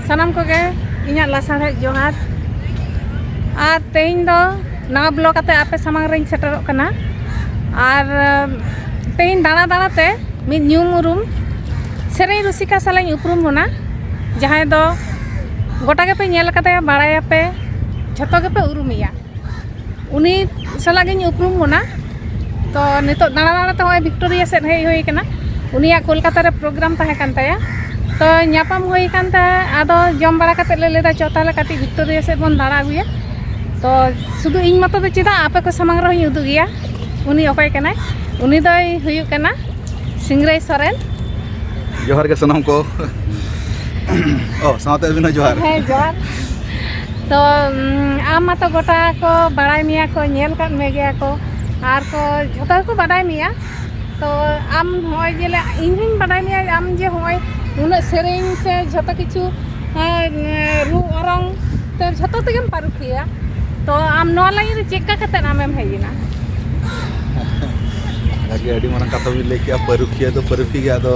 ᱥᱟᱱᱟᱢ ᱠᱚᱜᱮ ᱤᱧᱟᱹᱜ ᱞᱟᱥᱟᱲᱦᱮᱫ ᱡᱚᱦᱟᱨ ᱟᱨ ᱛᱮᱦᱮᱧ ᱫᱚ ᱱᱟᱣᱟ ᱵᱞᱚᱜ ᱟᱛᱮ ᱟᱯᱮ ᱥᱟᱢᱟᱝ ᱨᱮᱧ ᱥᱮᱴᱮᱨᱚᱜ ᱠᱟᱱᱟ ᱟᱨ ᱛᱮᱦᱮᱧ ᱫᱟᱬᱟ ᱫᱟᱬᱟ ᱛᱮ ᱢᱤᱫ ᱧᱩᱢ ᱩᱨᱩᱢ ᱥᱮᱨᱮᱧ ᱨᱩᱥᱤᱠᱟ ᱥᱟᱞᱟᱜ ᱤᱧ ᱩᱯᱨᱩᱢ ᱵᱚᱱᱟ ᱡᱟᱦᱟᱸᱭ ᱫᱚ ᱜᱚᱴᱟ ᱜᱮᱯᱮ ᱧᱮᱞ ᱠᱟᱫᱮᱭᱟ ᱵᱟᱲᱟᱭᱟᱯᱮ ᱡᱷᱚᱛᱚ ᱜᱮᱯᱮ ᱩᱨᱩᱢᱮᱭᱟ ᱩᱱᱤ ᱥᱟᱞᱟᱜ ᱜᱤᱧ ᱩᱯᱨᱩᱢ ᱵᱚᱱᱟ ᱛᱚ ᱱᱤᱛᱚᱜ ᱫᱟᱬᱟ ᱫᱟᱬᱟ ᱛᱮ ᱦᱚᱸᱜᱼᱚᱭ ᱵᱷᱤᱠᱴᱳᱨᱤᱭᱟ ᱥᱮᱫ ᱦᱮᱡ ᱦᱩᱭ ᱠᱟᱱᱟ ᱩᱱᱤᱭᱟᱜ ᱠᱳᱞᱠᱟᱛᱟ ᱨᱮ ᱯᱨᱳᱜᱨᱟᱢ ᱛᱟᱦᱮᱸ ᱠᱟᱱ ᱛᱟᱭᱟ ᱛᱚ ᱧᱟᱯᱟᱢ ᱦᱩᱭ ᱠᱟᱱ ᱛᱟᱦᱮᱸ ᱟᱫᱚ ᱡᱚᱢ ᱵᱟᱲᱟ ᱠᱟᱛᱮ ᱞᱮ ᱞᱟᱹᱭᱫᱟ ᱪᱚ ᱛᱟᱦᱞᱮ ᱠᱟᱹᱴᱤᱡ ᱵᱷᱤᱠᱴᱳᱨᱤᱭᱟ ᱥᱮᱫ ᱵᱚᱱ ᱫᱟᱬᱟ ᱟᱹᱜᱩᱭᱟ ᱛᱚ ᱥᱩᱫᱷᱩ ᱤᱧ ᱢᱚᱛᱚ ᱫᱚ ᱪᱮᱫᱟᱜ ᱟᱯᱮ ᱠᱚ ᱥᱟᱢᱟᱝ ᱨᱮᱦᱚᱸᱧ ᱩᱫᱩᱜᱮᱭᱟ ᱩᱱᱤ ᱚᱠᱚᱭ ᱠᱟᱱᱟᱭ ᱩᱱᱤ ᱫᱚᱭ ᱦᱩᱭᱩᱜ ᱠᱟᱱᱟ ᱥᱤᱝᱨᱟᱹᱭ ᱥᱚᱨᱮᱱ ᱡᱚᱦᱟᱨ ᱜᱮ ᱥᱟᱱᱟᱢ ᱠᱚ ᱚ ᱥᱟᱶᱛᱮ ᱟᱹᱵᱤᱱ ᱦᱚᱸ ᱡᱚᱦᱟᱨ ᱦᱮᱸ ᱡᱚᱦᱟᱨ ᱛᱚ ᱟᱢ ᱢᱟᱛᱚ ᱜᱚᱴᱟ ᱠᱚ ᱵᱟᱲᱟᱭ ᱢᱮᱭᱟ ᱠᱚ ᱧᱮᱞ ᱠᱟᱫ ᱢᱮ ᱜᱮᱭᱟ ᱠᱚ ᱟᱨ ᱠᱚ ᱡᱷᱚᱛᱚ ᱜᱮᱠᱚ ᱵᱟᱰᱟᱭ ᱢᱮᱭᱟ ᱛᱚ ᱟᱢ ᱦᱚᱸᱜᱼᱚᱭ ᱡᱮ ᱤᱧ ᱦᱚᱸᱧ ᱵᱟᱰᱟᱭ ᱢᱮᱭᱟ ᱟᱢ ᱡᱮ ᱦᱚᱸᱜᱼᱚᱭ ᱩᱱᱟᱹᱜ ᱥᱮᱨᱮᱧ ᱥᱮ ᱡᱷᱚᱛᱚ ᱠᱤᱪᱷᱩ ᱨᱩ ᱚᱨᱚᱝ ᱛᱮ ᱡᱷᱚᱛᱚ ᱛᱮᱜᱮᱢ ᱯᱟᱹᱨᱩᱠᱷᱤᱭᱟᱹ ᱛᱚ ᱟᱢ ᱱᱚᱣᱟ ᱞᱟᱹᱭᱤᱱ ᱨᱮ ᱪᱮᱫ ᱠᱟ ᱠᱟᱛᱮ ᱟᱢᱮᱢ ᱦᱮᱡ ᱮᱱᱟ ᱟᱹᱰᱤ ᱟᱹᱰᱤ ᱢᱟᱨᱟᱝ ᱠᱟᱛᱷᱟ ᱵᱤᱱ ᱞᱟᱹᱭ ᱠᱮᱜᱼᱟ ᱯᱟᱹᱨᱩᱠᱷᱤᱭᱟᱹ ᱫᱚ ᱯᱟᱹᱨᱩᱠᱷᱤᱭᱟᱹ ᱜᱮ ᱟᱫᱚ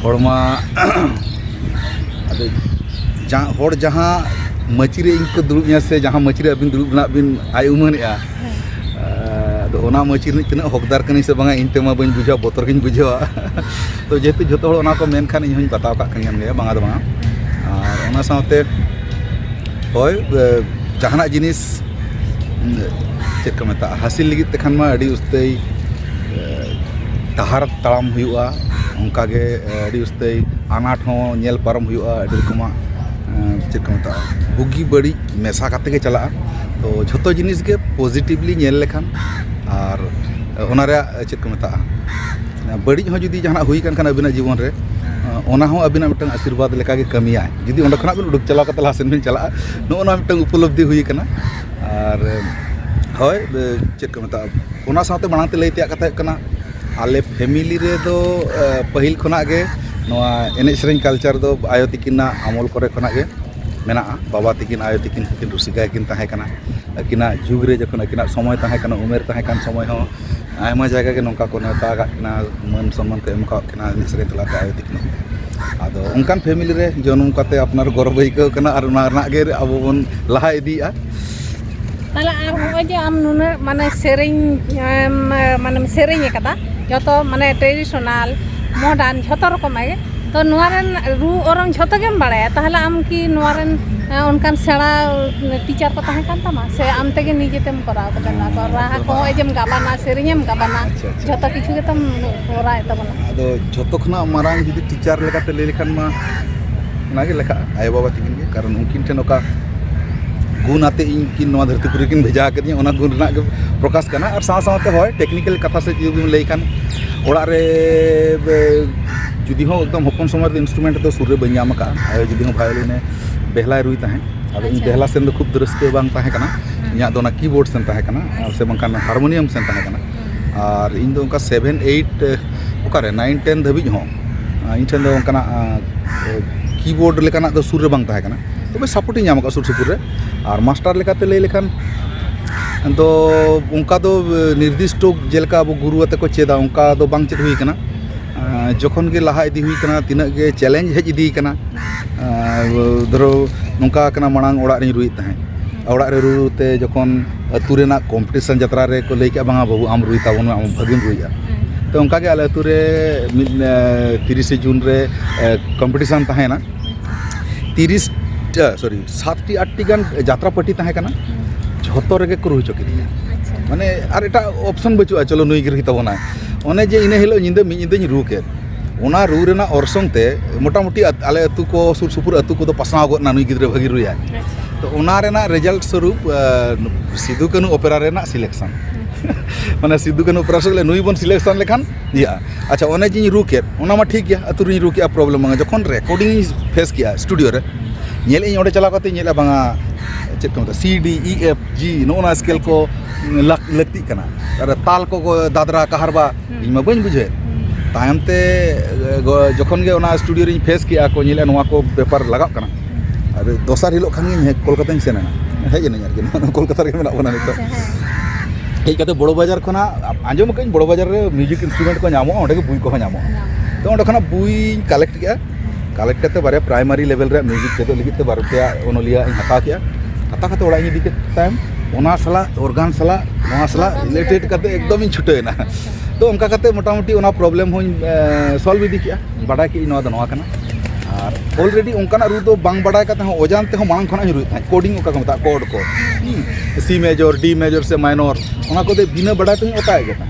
ᱦᱚᱲᱢᱟ ᱟᱫᱚ ᱡᱟᱦᱟᱸ ᱦᱚᱲ ᱡᱟᱦᱟᱸ ᱢᱟᱹᱪᱤ ᱨᱮ ᱤᱧ ᱠᱚ ᱫᱩᱲᱩᱵ ᱤᱧᱟ ᱥᱮ ᱡᱟᱦᱟᱸ ᱢᱟᱹᱪᱤ ᱨᱮ ᱟᱹᱵᱤᱱ ᱫᱩᱲᱩᱵ ᱨᱮᱱᱟᱜ ᱵᱤᱱ ᱟᱭ ᱩᱢᱟᱹᱱᱮᱜᱼᱟ ᱟᱫᱚ ᱚᱱᱟ ᱢᱟᱹᱪᱤ ᱨᱤᱱᱤᱡ ᱛᱤᱱᱟᱹᱜ ᱦᱚᱠᱫᱟᱨ ᱠᱟᱹᱱᱟᱹᱧ ᱥᱮ ᱵᱟᱝᱟ ᱤᱧ ᱛᱮᱢᱟ ᱵᱟᱹᱧ ᱵᱩᱡᱷᱟᱹᱣᱟ ᱵᱚᱛᱚᱨ ᱜᱤᱧ ᱵᱩᱡᱷᱟᱹᱣᱟ ᱛᱚ ᱡᱮᱦᱮᱛᱩ ᱡᱚᱛᱚ ᱦᱚᱲ ᱚᱱᱟ ᱠᱚ ᱢᱮᱱ ᱠᱷᱟᱱ ᱤᱧ ᱦᱚᱸᱧ ᱵᱟᱛᱟᱣ ᱠᱟᱜ ᱠᱟᱱ ᱜᱮᱭᱟ ᱵᱟᱝᱟ ᱫᱚ ᱵᱟᱝᱟ ᱟᱨ ᱚᱱᱟ ᱥᱟᱶᱛᱮ ᱦᱳᱭ ᱡᱟᱦᱟᱱᱟᱜ ᱡᱤᱱᱤᱥ ᱪᱮᱫ ᱠᱚ ᱢᱮᱛᱟᱜᱼᱟ ᱦᱟᱹᱥᱤᱞ ᱞᱟᱹᱜᱤᱫ ᱛᱮᱠᱷᱟᱱ ᱢᱟ ᱟᱹᱰᱤ ᱩᱥᱛᱟᱹᱭ ᱰᱟᱦᱟᱨ ᱛᱟᱲᱟᱢ ᱦᱩᱭᱩᱜᱼᱟ ᱚᱱᱠᱟᱜᱮ ᱟᱹᱰᱤ ᱩᱥᱛᱟᱹᱭ ᱟᱱᱟᱴ ᱦᱚᱸ ᱧᱮᱞ ᱯᱟᱨᱚᱢ ᱦᱩᱭᱩᱜᱼᱟ ᱟᱹᱰᱤ ᱨᱚᱠᱚᱢᱟᱜ ᱪᱮᱫ ᱠᱚ ᱢᱮᱛᱟᱜᱼᱟ ᱵᱩᱜᱤ ᱵᱟᱹᱲᱤᱡ ᱢᱮᱥᱟ ᱠᱟᱛᱮᱫ ᱜᱮ ᱪᱟᱞᱟᱜᱼᱟ ᱛᱳ ᱡᱷᱚᱛᱚ ᱡᱤᱱᱤᱥ ᱜᱮ ᱯᱚᱡᱤᱴᱤᱵᱷᱞᱤ ᱧᱮᱞ ᱞᱮᱠᱷᱟᱱ ᱟᱨ ᱚᱱᱟ ᱨᱮᱭᱟᱜ ᱪᱮᱫ ᱠᱚ ᱢᱮᱛᱟᱜᱼᱟ ᱵᱟᱹᱲᱤᱡ ᱦᱚᱸ ᱡᱩᱫᱤ ᱡᱟᱦᱟᱱᱟᱜ ᱦᱩᱭ ᱠᱟᱱ ᱠᱷᱟᱱ ᱟᱹᱵᱤᱱᱟᱜ ᱡᱤᱵᱚᱱ ᱨᱮ ᱚᱱᱟ ᱦᱚᱸ ᱟᱹᱵᱤᱱᱟᱜ ᱢᱤᱫᱴᱟᱱ ᱟᱥᱤᱨᱵᱟᱫᱽ ᱞᱮᱠᱟᱜᱮ ᱠᱟᱹᱢᱤᱭᱟᱭ ᱡᱩᱫᱤ ᱚᱸᱰᱮ ᱠᱷᱚᱱᱟᱜ ᱵᱤᱱ ᱩᱰᱩᱠ ᱪᱟᱞᱟᱣ ᱠᱟᱛᱮᱫ ᱞᱟᱦᱟ ᱥᱮᱫ ᱵᱤᱱ ᱪᱟᱞᱟᱜᱼᱟ ᱱᱚᱜᱼᱚ ᱱᱚᱣᱟ ᱢᱤᱫᱴᱟᱱ ᱩᱯᱚᱞᱚᱵᱽᱫᱷᱤ ᱦᱩᱭ ᱠᱟᱱᱟ ᱟᱨ ᱦᱳᱭ ᱪᱮᱫ ᱠᱚ ᱢᱮᱛᱟᱜᱼᱟ ᱚᱱᱟ ᱥᱟᱶᱛᱮ ᱢᱟᱲᱟᱝ ᱛᱮ ᱞᱟᱹᱭ ᱛᱮᱭᱟᱜ ᱠᱟᱛᱷᱟ ᱦᱩᱭᱩᱜ ᱠᱟᱱᱟ ᱟᱞᱮ ᱯᱷᱮᱢᱮᱞᱤ ᱨᱮᱫᱚ ᱯᱟᱹᱦᱤᱞ ᱠᱷᱚᱱᱟᱜ ᱜᱮ ᱱᱚᱣᱟ ᱮᱱᱮᱡ ᱥᱮᱨᱮᱧ ᱠᱟᱞᱪᱟᱨ ᱫᱚ ᱟᱭᱳ ᱛᱟᱹᱠᱤᱱᱟᱜ ᱟᱢᱚᱞ ᱠᱚᱨᱮ ᱠᱷᱚᱱᱟᱜ ᱜᱮ ᱢᱮᱱᱟᱜᱼᱟ ᱵᱟᱵᱟ ᱛᱟᱹᱠᱤᱱ ᱟᱭᱳ ᱛᱟᱹᱠᱤᱱ ᱦᱚᱸᱠᱤᱱ ᱨᱩᱥᱤᱠᱟ ᱜᱮᱠᱤᱱ ᱛᱟᱦᱮᱸ ᱠᱟᱱᱟ ᱟᱹᱠᱤᱱᱟᱜ ᱡᱩᱜᱽ ᱨᱮ ᱡᱚᱠᱷᱚᱱ ᱟᱹᱠᱤᱱᱟᱜ ᱥᱚᱢᱚᱭ ᱛᱟᱦᱮᱸ ᱠᱟᱱᱟ ᱩᱢᱮᱨ ᱛᱟᱦᱮᱸ ᱠᱟᱱ ᱥᱚᱢᱚᱭ ᱦᱚᱸ ᱟᱭᱢᱟ ᱡᱟᱭᱜᱟ ᱜᱮ ᱱᱚᱝᱠᱟ ᱠᱚ ᱱᱮᱶᱛᱟ ᱟᱠᱟᱫ ᱠᱤᱱᱟ ᱢᱟᱹᱱ ᱥᱚᱱᱢᱟᱱ ᱠᱚ ᱮᱢ ᱠᱟᱜ ᱠᱤᱱᱟ ᱮᱱᱮᱡ ᱥᱮᱨᱮᱧ ᱛᱟᱞᱟᱛᱮ ᱟᱭᱳ ᱛᱟᱹᱠᱤᱱ ᱦᱚᱸ ᱟᱫᱚ ᱚᱱᱠᱟᱱ ᱯᱷᱮᱢᱮᱞᱤ ᱨᱮ ᱡᱚᱱᱚᱢ ᱠᱟᱛᱮᱫ ᱟᱯᱱᱟᱨ ᱜᱚᱨᱚᱵᱽ ᱟᱹᱭᱠᱟᱹᱣ ᱠᱟᱱᱟ ᱟᱨ ᱚᱱᱟ ᱨᱮᱱᱟᱜ ᱜᱮ ᱟᱵᱚ ᱵᱚᱱ ᱞᱟᱦᱟ ᱤᱫᱤᱭᱮᱫᱼᱟ ᱛᱟᱦᱚᱞᱮ ᱟᱨ ᱱᱚᱜᱼᱚᱭ ᱡᱮ ᱟᱢ ᱱᱩᱱᱟᱹᱜ ᱢᱟᱱᱮ ᱥᱮᱨᱮᱧ ᱢᱟᱱᱮᱢ ᱥᱮᱨᱮᱧ ᱟᱠᱟᱫᱟ ᱡᱚᱛᱚ ᱢᱟᱱᱮ ᱴᱨᱮᱰᱤᱥᱚᱱᱟᱞ ᱢᱚᱰᱟᱨᱱ ᱡᱷᱚᱛᱚ ᱨᱚᱠᱚᱢᱟᱜ ᱜᱮ ᱛᱚ ᱱᱚᱣᱟ ᱨᱮᱱ ᱨᱩ ᱚᱨᱚᱝ ᱡᱷᱚᱛᱚ ᱜᱮᱢ ᱵᱟᱲᱟᱭᱟ ᱛᱟᱦᱚᱞᱮ ᱟᱢ ᱠᱤ ᱱᱚᱣᱟ ᱨᱮᱱ ᱚᱱᱠᱟᱱ ᱥᱮᱬᱟ ᱴᱤᱪᱟᱨ ᱠᱚ ᱛᱟᱦᱮᱸ ᱠᱟᱱ ᱛᱟᱢᱟ ᱥᱮ ᱟᱢ ᱛᱮᱜᱮ ᱱᱤᱡᱮ ᱛᱮᱢ ᱠᱚᱨᱟᱣ ᱠᱟᱫᱟ ᱱᱚᱣᱟ ᱠᱚ ᱨᱟᱦᱟ ᱠᱚ ᱱᱚᱜᱼᱚᱭ ᱡᱮᱢ ᱜᱟᱵᱟᱱᱟ ᱥᱮᱨᱮᱧ ᱮᱢ ᱜᱟᱵᱟᱱᱟ ᱡᱷᱚᱛᱚ ᱠᱤᱪᱷᱩ ᱜᱮᱛᱚᱢ ᱠᱚᱨᱟᱣᱮᱫ ᱛᱟᱵᱚᱱᱟ ᱟᱫᱚ ᱡᱷᱚᱛᱚ ᱠᱷᱚᱱᱟᱜ ᱢᱟᱨᱟᱝ ᱡᱩᱫᱤ ᱴᱤᱪᱟᱨ ᱞᱮᱠᱟᱛᱮ ᱞᱟᱹᱭ ᱞᱮᱠᱷᱟᱱ ᱢᱟ ᱚᱱᱟᱜᱮ ᱞᱮᱠᱷᱟᱜᱼᱟ ᱟᱭᱳᱼᱵᱟᱵᱟ ᱛᱟᱹᱠᱤᱱ ᱜᱮ ᱠᱟᱨᱚᱱ ᱩᱱᱠᱤᱱ ᱴᱷᱮᱱ ᱚᱠᱟ ᱜᱩᱱ ᱟᱛᱮᱫ ᱤᱧ ᱠᱤᱱ ᱱᱚᱣᱟ ᱫᱷᱟᱹᱨᱛᱤ ᱯᱩᱨᱤ ᱨᱮᱠᱤᱱ ᱵᱷᱮᱡᱟ ᱟᱠᱟᱫᱤᱧᱟ ᱚᱱᱟ ᱜᱩᱱ ᱨᱮᱱᱟᱜ ᱜᱮ ᱯᱨᱚᱠᱟᱥ ᱠᱟᱱᱟ ᱟᱨ ᱥᱟᱶ ᱥᱟᱶᱛᱮ ᱦᱳᱭ ᱴᱮᱠᱱᱤᱠᱮᱞ ᱠᱟᱛᱷᱟ ᱥᱮᱫ ᱡᱩᱫᱤ ᱵᱚᱱ ᱞᱟᱹᱭ ᱠᱷᱟᱱ ᱚᱲᱟᱜ ᱨᱮ ᱡᱩᱫᱤ ᱦᱚᱸ ᱮᱠᱫᱚᱢ ᱦᱚᱯᱚᱱ ᱥᱚᱢᱚᱭ ᱨᱮᱫᱚ ᱤᱱᱥᱴᱨᱩᱢᱮᱱᱴ ᱫᱚ ᱥᱩᱨ ᱨᱮ ᱵᱟᱹᱧ ᱧᱟᱢ ᱟᱠᱟᱫᱼᱟ ᱟᱭᱳ ᱡᱩᱫᱤ ᱦᱚᱸ ᱵᱷᱟᱭᱳᱞᱤᱱᱮ ᱵᱮᱦᱞᱟᱭ ᱨᱩᱭ ᱛᱟᱦᱮᱸᱫ ᱟᱫᱚ ᱤᱧ ᱵᱮᱦᱞᱟ ᱥᱮᱱ ᱫᱚ ᱠᱷᱩᱵ ᱫᱚ ᱨᱟᱹᱥᱠᱟᱹ ᱵᱟᱝ ᱛᱟᱦᱮᱸ ᱠᱟᱱᱟ ᱤᱧᱟᱹᱜ ᱫᱚ ᱚᱱᱟ ᱠᱤᱵᱳᱨᱰ ᱥᱮᱱ ᱛᱟᱦᱮᱸ ᱠᱟᱱᱟ ᱥᱮ ᱵᱟᱝᱠᱷᱟᱱ ᱦᱟᱨᱢᱳᱱᱤᱭᱟᱢ ᱥᱮᱱ ᱛᱟᱦᱮᱸ ᱠᱟᱱᱟ ᱟᱨ ᱤᱧ ᱫᱚ ᱚᱱᱠᱟ ᱥᱮᱵᱷᱮᱱ ᱮᱭᱤᱴ ᱚᱠᱟᱨᱮ ᱱᱟᱭᱤᱱ ᱴᱮᱱ ᱫᱷᱟᱹᱵᱤᱡ ᱦᱚᱸ ᱤᱧ ᱴᱷᱮᱱ ᱫᱚ ᱚᱱᱠᱟᱱᱟᱜ ᱠᱤᱵᱳᱨᱰ ᱞᱮᱠᱟᱱᱟᱜ ᱫᱚ ᱥᱩᱨ ᱨᱮ ᱵᱟᱝ ᱛᱟᱦᱮᱸ ᱠᱟᱱᱟ ᱛᱚᱵᱮ ᱥᱟᱯᱳᱨᱴ ᱤᱧ ᱧᱟᱢ ᱠᱟᱫᱟ ᱥᱩᱨ ᱥᱩᱯᱩᱨ ᱨᱮ ᱟᱨ ᱢᱟᱥᱴᱟᱨ ᱞᱮᱠᱟᱛᱮ ᱞᱟᱹᱭ ᱞᱮᱠᱷᱟᱱ ᱫᱚ ᱚᱱᱠᱟ ᱫᱚ ᱱᱤᱨᱫᱤᱥᱴᱚ ᱡᱮᱞᱮᱠᱟ ᱟᱵᱚ ᱜᱩᱨᱩ ᱟᱛᱮᱜ ᱠᱚ ᱪᱮᱫᱟ ᱚᱱᱠᱟ ᱫᱚ ᱵᱟᱝ ᱪᱮᱫ ᱦᱩᱭ ᱠᱟᱱᱟ ᱡᱚᱠᱷᱚᱱ ᱜᱮ ᱞᱟᱦᱟ ᱤᱫᱤ ᱦᱩᱭ ᱠᱟᱱᱟ ᱛᱤᱱᱟᱹᱜ ᱜᱮ ᱪᱮᱞᱮᱧᱡᱽ ᱦᱮᱡ ᱤᱫᱤ ᱠᱟᱱᱟ ᱫᱷᱚᱨᱚ ᱱᱚᱝᱠᱟ ᱠᱟᱱᱟ ᱢᱟᱲᱟᱝ ᱚᱲᱟᱜ ᱨᱤᱧ ᱨᱩᱭᱮᱫ ᱛᱟᱦᱮᱸᱜ ᱚᱲᱟᱜ ᱨᱮ ᱨᱩ ᱨᱩ ᱛᱮ ᱡᱚᱠᱷᱚᱱ ᱟᱹᱛᱩ ᱨᱮᱱᱟᱜ ᱠᱚᱢᱯᱤᱴᱤᱥᱮᱱ ᱡᱟᱛᱨᱟ ᱨᱮᱠᱚ ᱞᱟᱹᱭ ᱠᱮᱜᱼᱟ ᱵᱟᱝᱟ ᱵᱟᱹᱵᱩ ᱟᱢ ᱨᱩᱭ ᱛᱟᱵᱚᱱ ᱢᱮ ᱟᱢ ᱵᱷᱟᱹᱜᱤᱢ ᱨᱩᱭᱮᱜᱼᱟ ᱛᱚ ᱚᱱᱠᱟ ᱜᱮ ᱟᱞᱮ ᱟᱹᱛᱩ ᱨᱮ ᱢᱤᱫ ᱛᱤᱨᱤᱥᱮ ᱡᱩᱱ ᱨᱮ ᱠᱚᱢᱯᱤᱴᱤᱥᱮᱱ ᱛᱟᱦᱮᱸᱭᱮᱱᱟ ᱛᱤᱨᱤᱥ ᱥᱚᱨᱤ ᱥᱟᱛᱴᱤ ᱟᱴᱴᱤ ᱜᱟᱱ ᱡᱟᱛᱨᱟ ᱯᱟᱹᱴᱤ ᱛᱟᱦᱮᱸ ᱠᱟᱱᱟ ᱡᱷᱚᱛᱚ ᱨᱮᱜᱮ ᱠᱚ ᱨᱩ ᱦᱚᱪᱚ ᱠᱤᱫᱤᱧᱟ ᱢᱟᱱᱮ ᱟᱨ ᱮᱴᱟᱜ ᱚᱯᱷᱥᱮᱱ ᱵᱟᱹᱪᱩᱜᱼᱟ ᱪᱚᱞᱚ ᱱᱩᱭ ᱜᱮ ᱨᱩᱭ ᱛᱟᱵᱚᱱᱟᱭ ᱚᱱᱮ ᱡᱮ ᱤᱱᱟᱹ ᱦᱤᱞᱳᱜ ᱧᱤᱫᱟᱹ ᱢᱤᱫ ᱧᱤᱫᱟᱹᱧ ᱨᱩ ᱠᱮᱜ ᱚᱱᱟ ᱨᱩ ᱨᱮᱱᱟᱜ ᱚᱨᱥᱚᱝ ᱛᱮ ᱢᱚᱴᱟᱢᱩᱴᱤ ᱟᱞᱮ ᱟᱛᱳ ᱠᱚ ᱥᱩᱨ ᱥᱩᱯᱩᱨ ᱟᱛᱳ ᱠᱚᱫᱚ ᱯᱟᱥᱱᱟᱣ ᱜᱚᱫ ᱮᱱᱟ ᱱᱩᱭ ᱜᱤᱫᱽᱨᱟᱹ ᱵᱷᱟᱹᱜᱤ ᱨᱩᱭᱟᱭ ᱛᱚ ᱚᱱᱟ ᱨᱮᱱᱟᱜ ᱨᱮᱡᱟᱞᱴ ᱥᱚᱨᱩᱯ ᱥᱤᱫᱩ ᱠᱟᱹᱱᱩ ᱚᱯᱮᱨᱟ ᱨᱮᱱᱟᱜ ᱥᱤᱞᱮᱠᱥᱚᱱ ᱢᱟᱱᱮ ᱥᱤᱫᱩ ᱠᱟᱹᱱᱩ ᱚᱯᱮᱨᱟ ᱥᱚᱸᱜᱮ ᱱᱩᱭ ᱵᱚᱱ ᱥᱤᱞᱮᱠᱥᱚᱱ ᱞᱮᱠᱷᱟᱱ ᱤᱭᱟᱹᱜᱼᱟ ᱟᱪᱪᱷᱟ ᱚᱱᱮ ᱡᱮᱧ ᱨᱩ ᱠᱮᱫ ᱚᱱᱟ ᱢᱟ ᱴᱷᱤᱠ ᱜᱮᱭᱟ ᱟᱛᱳ ᱨᱮᱧ ᱨᱩ ᱠᱮᱫᱼᱟ ᱯᱨᱚᱵᱞᱮᱢ ᱵᱟᱝ ᱡᱚᱠᱷᱚᱱ ᱨᱮᱠᱳᱰᱤᱝ ᱤᱧ ᱯᱷᱮᱥ ᱠᱮᱫᱼᱟ ᱥᱴᱩᱰᱤᱭᱳ ᱨᱮ ᱧᱮᱞ ᱮᱫᱟᱹᱧ ᱚᱸᱰᱮ ᱪᱟᱞᱟᱣ ᱠᱟᱛᱮᱧ ᱧᱮᱞᱮᱫᱼᱟ ᱵᱟᱝᱟ ᱪᱮᱫ ᱠᱚ ᱢᱮᱛᱟᱜᱼᱟ ᱥᱤ ᱰᱤ ᱤ ᱮᱯᱷ ᱡᱤ ᱱᱚᱜᱼᱚ ᱱᱚᱣᱟ ᱥᱠᱮᱞ ᱠᱚ ᱞᱟᱹᱠᱛᱤᱜ ᱠᱟᱱᱟ ᱟᱨ ᱛᱟᱞ ᱠᱚ ᱫᱟᱫᱽᱨᱟ ᱠᱟᱦᱟᱨᱵᱟ ᱤᱧ ᱢᱟ ᱵᱟᱹᱧ ᱵᱩᱡᱷᱟᱹᱣᱮᱫ ᱛᱟᱭᱚᱢ ᱛᱮ ᱡᱚᱠᱷᱚᱱ ᱜᱮ ᱚᱱᱟ ᱥᱴᱩᱰᱤᱭᱳ ᱨᱤᱧ ᱯᱷᱮᱥ ᱠᱮᱜᱼᱟ ᱟᱨ ᱠᱚ ᱧᱮᱞᱮᱜᱼᱟ ᱱᱚᱣᱟ ᱠᱚ ᱵᱮᱯᱟᱨ ᱞᱟᱜᱟᱜ ᱠᱟᱱᱟ ᱟᱨ ᱫᱚᱥᱟᱨ ᱦᱤᱞᱳᱜ ᱠᱷᱟᱱ ᱜᱮ ᱠᱳᱞᱠᱟᱛᱟᱧ ᱥᱮᱱ ᱮᱱᱟ ᱦᱮᱡ ᱮᱱᱟᱹᱧ ᱟᱨᱠᱤ ᱱᱚᱣᱟ ᱠᱳᱞᱠᱟᱛᱟ ᱨᱮᱜᱮ ᱢᱮᱱᱟᱜ ᱵᱚᱱᱟ ᱱᱤᱛᱚᱜ ᱦᱮᱡ ᱠᱟᱛᱮᱫ ᱵᱚᱲᱚ ᱵᱟᱡᱟᱨ ᱠᱷᱚᱱᱟᱜ ᱟᱸᱡᱚᱢ ᱠᱟᱜ ᱟᱹᱧ ᱵᱚᱲᱚ ᱵᱟᱡᱟᱨ ᱨᱮ ᱢᱤᱭᱩᱡᱤᱠ ᱤᱱᱥᱴᱨᱩᱢᱮᱱᱴ ᱠᱚ ᱧᱟᱢᱚᱜᱼᱟ ᱚᱸᱰᱮ ᱜᱮ ᱵᱳᱭ ᱠᱚᱦᱚᱸ ᱧᱟᱢᱚᱜᱼᱟ ᱛᱚ ᱚᱸᱰᱮ ᱠᱷᱚᱱᱟᱜ ᱵᱳᱭᱤᱧ ᱠᱟᱞᱮᱠᱴ ᱠᱮᱜᱼᱟ ᱠᱟᱞᱮᱠᱴ ᱠᱟᱛᱮ ᱵᱟᱨᱭᱟ ᱯᱨᱟᱭᱢᱟᱨᱤ ᱞᱮᱵᱮᱞ ᱨᱮᱭᱟᱜ ᱢᱤᱭᱩᱡᱤᱠ ᱪᱮᱫᱚᱜ ᱞᱟᱹᱜᱤᱫ ᱛᱮ ᱵᱟᱨ ᱯᱮᱭᱟ ᱚᱱᱚᱞᱤᱭᱟᱹ ᱤᱧ ᱦᱟᱛᱟᱣ ᱠᱮᱜᱼᱟ ᱦᱟᱛᱟᱣ ᱠᱟᱛᱮ ᱚᱲᱟᱜ ᱤᱧ ᱤᱫᱤ ᱠᱮᱫ ᱛᱟᱭᱚᱢ ᱚᱱᱟ ᱥᱟᱞᱟᱜ ᱚᱨᱜᱟᱱ ᱥᱟᱞᱟᱜ ᱱᱚᱣᱟ ᱥᱟᱞᱟᱜ ᱨᱤᱞᱮᱴᱮᱰ ᱠᱟᱛᱮ ᱮᱠᱫᱚᱢ ᱤᱧ ᱪᱷᱩᱴᱟᱹᱣ ᱮᱱᱟ ᱛᱚ ᱚᱱᱠᱟ ᱠᱟᱛᱮ ᱢᱚᱴᱟᱢᱩᱴᱤ ᱚᱱᱟ ᱯᱨᱚᱵᱞᱮᱢ ᱦᱚᱸᱧ ᱥᱚᱞᱵᱷ ᱤᱫᱤ ᱠᱮᱜᱼᱟ ᱵᱟᱰᱟᱭ ᱠᱮᱜᱼᱟᱹᱧ ᱱᱚᱣᱟ ᱫᱚ ᱱᱚᱣᱟ ᱠᱟᱱᱟ ᱟᱨ ᱚᱞᱨᱮᱰᱤ ᱚᱱᱠᱟᱱᱟᱜ ᱨᱩ ᱫᱚ ᱵᱟᱝ ᱵᱟᱰᱟᱭ ᱠᱟᱛᱮ ᱦᱚᱸ ᱚᱡᱟᱱ ᱛᱮᱦᱚᱸ ᱢᱟᱲᱟᱝ ᱠᱷᱚᱱᱟᱜ ᱤᱧ ᱨᱩᱭᱮᱫ ᱛᱟᱦᱮᱸᱫ ᱠᱳᱰᱤᱝ ᱚᱠᱟ ᱠᱚ ᱢᱮᱛᱟᱜᱼᱟ ᱠᱚᱰ ᱠᱚ ᱥᱤ ᱢᱮᱡᱚᱨ ᱰᱤ ᱢᱮᱡᱚᱨ ᱥᱮ ᱢᱟᱭᱱᱚᱨ ᱚᱱᱟ ᱠᱚᱫᱚ ᱵᱤᱱᱟᱹ ᱵᱟᱰᱟᱭ ᱛᱮᱦᱚᱸᱧ ᱚᱛᱟᱭᱮᱫ ᱜᱮ ᱛᱟᱦᱮᱸᱫ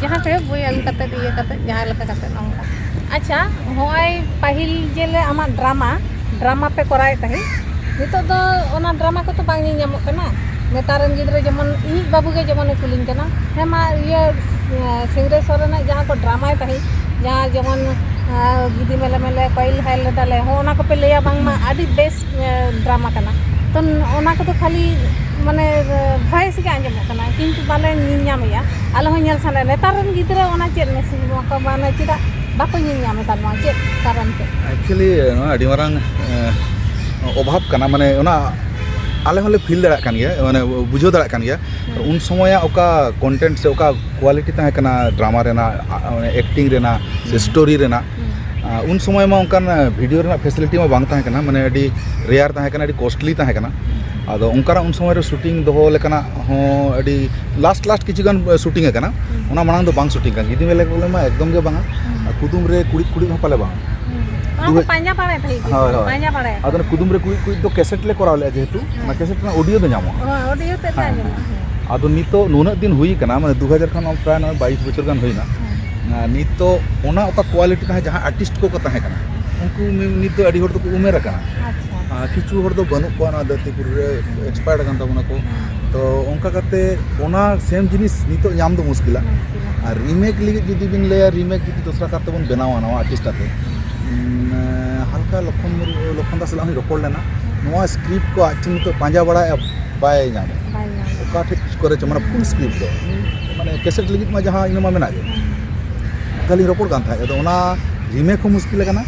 ᱡᱟᱦᱟᱸ ᱠᱚᱨᱮ ᱵᱳᱭ ᱟᱹᱜᱩ ᱠᱟᱛᱮ ᱤᱭᱟᱹ ᱠᱟᱛᱮ ᱡᱟᱦᱟᱸ ᱞᱮᱠᱟ ᱠᱟᱛᱮ ᱱᱚᱝᱠᱟ ᱟᱪᱪᱷᱟ ᱦᱚᱸᱜᱼᱚᱭ ᱯᱟᱹᱦᱤᱞ ᱡᱮᱞᱮ ᱟᱢᱟᱜ ᱰᱨᱟᱢᱟ ᱰᱨᱟᱢᱟ ᱯᱮ ᱠᱚᱨᱟᱣᱮᱫ ᱛᱟᱦᱮᱸᱫ ᱱᱤᱛᱚᱜ ᱫᱚ ᱚᱱᱟ ᱰᱨᱟᱢᱟ ᱠᱚᱛᱚ ᱵᱟᱝ ᱧᱮᱞ ᱧᱟᱢᱚᱜ ᱠᱟᱱᱟ ᱱᱮᱛᱟᱨ ᱨᱮᱱ ᱜᱤᱫᱽᱨᱟᱹ ᱡᱮᱢᱚᱱ ᱤᱧᱤᱡ ᱵᱟᱹᱵᱩ ᱜᱮ ᱡᱮᱢᱚᱱᱮ ᱠᱩᱞᱤᱧ ᱠᱟᱱᱟ ᱦᱮᱸ ᱢᱟ ᱤᱭᱟᱹ ᱥᱤᱝᱨᱟᱹᱭ ᱥᱚᱨᱮᱱᱟᱜ ᱡᱟᱦᱟᱸ ᱠᱚ ᱰᱨᱟᱢᱟᱭ ᱛᱟᱦᱮᱸᱫ ᱡᱟᱦᱟᱸ ᱡᱮᱢᱚᱱ ᱜᱤᱫᱤ ᱢᱮᱞᱮ ᱢᱮᱞᱮ ᱠᱚᱭᱤᱞ ᱦᱟᱭᱤᱞ ᱞᱮᱫᱟᱞᱮ ᱦᱚᱸᱜᱼᱚ ᱱᱟ ᱠᱚᱯᱮ ᱞᱟᱹᱭᱟ ᱵᱟᱝᱢᱟ ᱟᱹᱰᱤ ᱵᱮᱥ ᱰᱨᱟᱢᱟ ᱠᱟᱱᱟ ᱛᱚ ᱚᱱᱟ ᱠᱚᱫᱚ ᱠᱷᱟᱹᱞᱤ ᱢᱟᱱᱮ ᱵᱷᱚᱭᱮᱥ ᱜᱮ ᱟᱸᱡᱚᱢᱚᱜ ᱠᱟᱱᱟ ᱠᱤᱱᱛᱩ ᱵᱟᱞᱮ ᱧᱮᱞ ᱧᱟᱢᱮᱜᱼᱟ ᱟᱞᱮ ᱦᱚᱸ ᱧᱮᱞ ᱥᱟᱱᱟᱭᱮᱫ ᱞᱮᱭᱟ ᱱᱮᱛᱟᱨ ᱨᱮᱱ ᱜᱤᱫᱽᱨᱟᱹ ᱚᱱᱟ ᱪᱮᱫ ᱢᱮᱥᱮᱡᱽ ᱱᱚᱣᱟ ᱠᱚ ᱢᱟᱱᱮ ᱪᱮᱫᱟᱜ ᱵᱟᱠᱚ ᱧᱮᱞ ᱧᱟᱢ ᱮᱫᱟ ᱱᱚᱣᱟ ᱪᱮᱫ ᱠᱟᱨᱚᱱ ᱛᱮ ᱮᱠᱪᱩᱭᱮᱞᱤ ᱱᱚᱣᱟ ᱟᱹᱰᱤ ᱢᱟᱨᱟᱝ ᱚᱵᱷᱟᱵᱽ ᱠᱟᱱᱟ ᱢᱟᱱᱮ ᱚᱱᱟ ᱟᱞᱮ ᱦᱚᱸᱞᱮ ᱯᱷᱤᱞ ᱫᱟᱲᱮᱭᱟᱜ ᱠᱟᱱ ᱜᱮᱭᱟ ᱢᱟᱱᱮ ᱵᱩᱡᱷᱟᱹᱣ ᱫᱟᱲᱮᱭᱟᱜ ᱠᱟᱱ ᱜᱮᱭᱟ ᱩᱱ ᱥᱚᱢᱚᱭᱟᱜ ᱚᱠᱟ ᱠᱚᱱᱴᱮᱱᱴ ᱥᱮ ᱚᱠᱟ ᱠᱚᱣᱟᱞᱤᱴᱤ ᱛᱟᱦᱮᱸ ᱠᱟᱱᱟ ᱰᱨᱟᱢᱟ ᱨᱮᱱᱟᱜ ᱮᱠᱴᱤᱝ ᱨᱮᱱᱟᱜ ᱥᱮ ᱥᱴᱳᱨᱤ ᱨᱮᱱᱟᱜ ᱩᱱ ᱥᱚᱢᱚᱭ ᱢᱟ ᱚᱱᱠᱟᱱ ᱵᱷᱤᱰᱤᱭᱳ ᱨᱮᱱᱟᱜ ᱯᱷᱮᱥᱤᱞᱤᱴᱤ ᱢᱟ ᱵᱟᱝ ᱛᱟᱦᱮᱸ ᱠᱟᱱᱟ ᱢᱟᱱᱮ ᱟᱹᱰᱤ ᱨᱮᱭᱟᱨ ᱛᱟᱦᱮᱸ ᱠᱟᱱᱟ ᱟᱹᱰᱤ ᱠᱚᱥᱴᱞᱤ ᱛᱟᱦᱮᱸ ᱠᱟᱱᱟ ᱟᱫᱚ ᱚᱱᱠᱟᱱᱟᱜ ᱩᱱ ᱥᱚᱢᱚᱭ ᱨᱮ ᱥᱩᱴᱤᱝ ᱫᱚᱦᱚ ᱞᱮᱠᱟᱱᱟᱜ ᱦᱚᱸ ᱟᱹᱰᱤ ᱞᱟᱥᱴ ᱞᱟᱥᱴ ᱠᱤᱪᱷᱩ ᱜᱟᱱ ᱥᱩᱴᱤᱝ ᱟᱠᱟᱱᱟ ᱚᱱᱟ ᱢᱟᱲᱟᱝ ᱫᱚ ᱵᱟᱝ ᱥᱩᱴᱤᱝ ᱟᱠᱟᱱᱟ ᱜᱤᱫᱤ ᱢᱮᱞᱮ ᱵᱚᱞᱮ ᱢᱟ ᱮᱠᱫᱚᱢ ᱜᱮ ᱵᱟᱝᱟ ᱠᱩᱫᱩᱢ ᱨᱮ ᱠᱩᱲᱤᱫ ᱠᱩᱲᱤᱫ ᱦᱚᱸ ᱯᱟᱞᱮ ᱵᱟᱝ ᱯᱟᱸᱡᱟ ᱵᱟᱲᱟᱭ ᱛᱟᱦᱮᱸ ᱦᱳᱭ ᱦᱳᱭ ᱯᱟᱸᱡᱟ ᱵᱟᱲᱟᱭ ᱟᱫᱚ ᱠᱩᱫᱩᱢ ᱨᱮ ᱠᱩᱲᱤᱫ ᱠᱩᱲᱤᱫ ᱫᱚ ᱠᱮᱥᱮᱴ ᱞᱮ ᱠᱚᱨᱟᱣ ᱞᱮᱫᱼᱟ ᱡᱮᱦᱮᱛᱩ ᱚᱱᱟ ᱠᱮᱥᱮᱴ ᱨᱮᱱᱟᱜ ᱚᱰᱤᱭᱳ ᱫᱚ ᱧᱟᱢᱚᱜᱼᱟ ᱚᱰᱤᱭᱳ ᱛᱮ ᱧᱟᱢᱚᱜᱼᱟ ᱟᱫᱚ ᱱᱤᱛᱚᱜ ᱱᱩᱱᱟᱹᱜ ᱫᱤᱱ ᱦᱩᱭ ᱟᱠᱟᱱᱟ ᱢᱟᱱᱮ ᱫᱩ ᱦᱟᱡᱟᱨ ᱠᱷᱚᱱ ᱯᱨᱟᱭ ᱱᱚᱜᱼᱚᱭ ᱵᱟᱭᱤᱥ ᱵᱚᱪᱷᱚᱨ ᱜᱟᱱ ᱦᱩᱭᱱᱟ ᱱᱤᱛᱚᱜ ᱚᱱᱟ ᱚᱠᱟ ᱠᱳᱣᱟᱞᱤᱴᱤ ᱛᱟᱦᱮᱸ ᱡᱟᱦᱟᱸ ᱟᱨᱴᱤᱥᱴ ᱠᱚᱠᱚ ᱛᱟᱦᱮᱸ ᱠᱟᱱᱟ ᱩᱱᱠᱩ ᱱᱤᱛ ᱫᱚ ᱟᱹᱰᱤ ᱦᱚᱲ ᱫᱚᱠᱚ ᱩᱢᱮᱨ ᱟᱠᱟᱱᱟ ᱠᱤᱪᱷᱩ ᱦᱚᱲ ᱫᱚ ᱵᱟᱹᱱᱩᱜ ᱠᱚᱣᱟ ᱱᱚᱣᱟ ᱫᱷᱟᱹᱨᱛᱤ ᱯᱩᱨᱤ ᱨᱮ ᱮᱠᱥᱯᱟᱭᱟᱨᱰ ᱟᱠᱟᱱ ᱛᱟᱵᱚᱱᱟ ᱠᱚ ᱛᱚ ᱚᱱᱠᱟ ᱠᱟᱛᱮ ᱚᱱᱟ ᱥᱮᱢ ᱡᱤᱱᱤᱥ ᱱᱤᱛᱚᱜ ᱧᱟᱢ ᱫᱚ ᱢᱩᱥᱠᱤᱞᱟ ᱟᱨ ᱨᱤᱢᱮᱠ ᱞᱟᱹᱜᱤᱫ ᱡᱩᱫᱤ ᱵᱤᱱ ᱞᱟᱹᱭᱟ ᱨᱤᱢᱮᱠ ᱡᱩᱫᱤ ᱫᱚᱥᱨᱟ ᱠᱟᱨ ᱛᱮᱵᱚᱱ ᱵᱮᱱᱟᱣᱟ ᱱᱟᱣᱟ ᱟᱨᱴᱤᱥᱴ ᱟᱛᱮ ᱦᱟᱞᱠᱟ ᱞᱚᱠᱷᱚᱱ ᱞᱚᱠᱷᱚᱱ ᱫᱟᱥ ᱥᱟᱞᱟᱜ ᱦᱚᱸᱧ ᱨᱚᱯᱚᱲ ᱞᱮᱱᱟ ᱱᱚᱣᱟ ᱥᱠᱨᱤᱯᱴ ᱠᱚ ᱟᱡ ᱴᱷᱮᱱ ᱱᱤᱛᱚᱜ ᱯᱟᱸᱡᱟ ᱵᱟᱲᱟᱭᱮᱫᱼᱟ ᱵᱟᱭ ᱧᱟᱢᱮᱫᱼᱟ ᱚᱠᱟ ᱴᱷᱮᱱ ᱠᱚᱨᱮ ᱪᱚ ᱢᱟᱱᱮ ᱯᱷᱩᱞ ᱥᱠᱨᱤᱯᱴ ᱫᱚ ᱢᱟᱱᱮ ᱠᱮᱥᱮᱴ ᱞᱟᱹᱜᱤᱫ ᱢᱟ ᱡᱟᱦᱟᱸ ᱤᱱᱟᱹ ᱢᱟ ᱢᱮᱱᱟᱜ ᱜᱮ ᱚᱱᱠᱟ ᱞᱤᱧ ᱨᱚᱯᱚᱲ ᱠᱟᱱ ᱛᱟᱦᱮᱸᱫ ᱟᱫᱚ ᱚᱱᱟ ᱨᱤᱢᱮᱠ ᱦᱚᱸ ᱢᱩᱥᱠᱤᱞ ᱠᱟᱱᱟ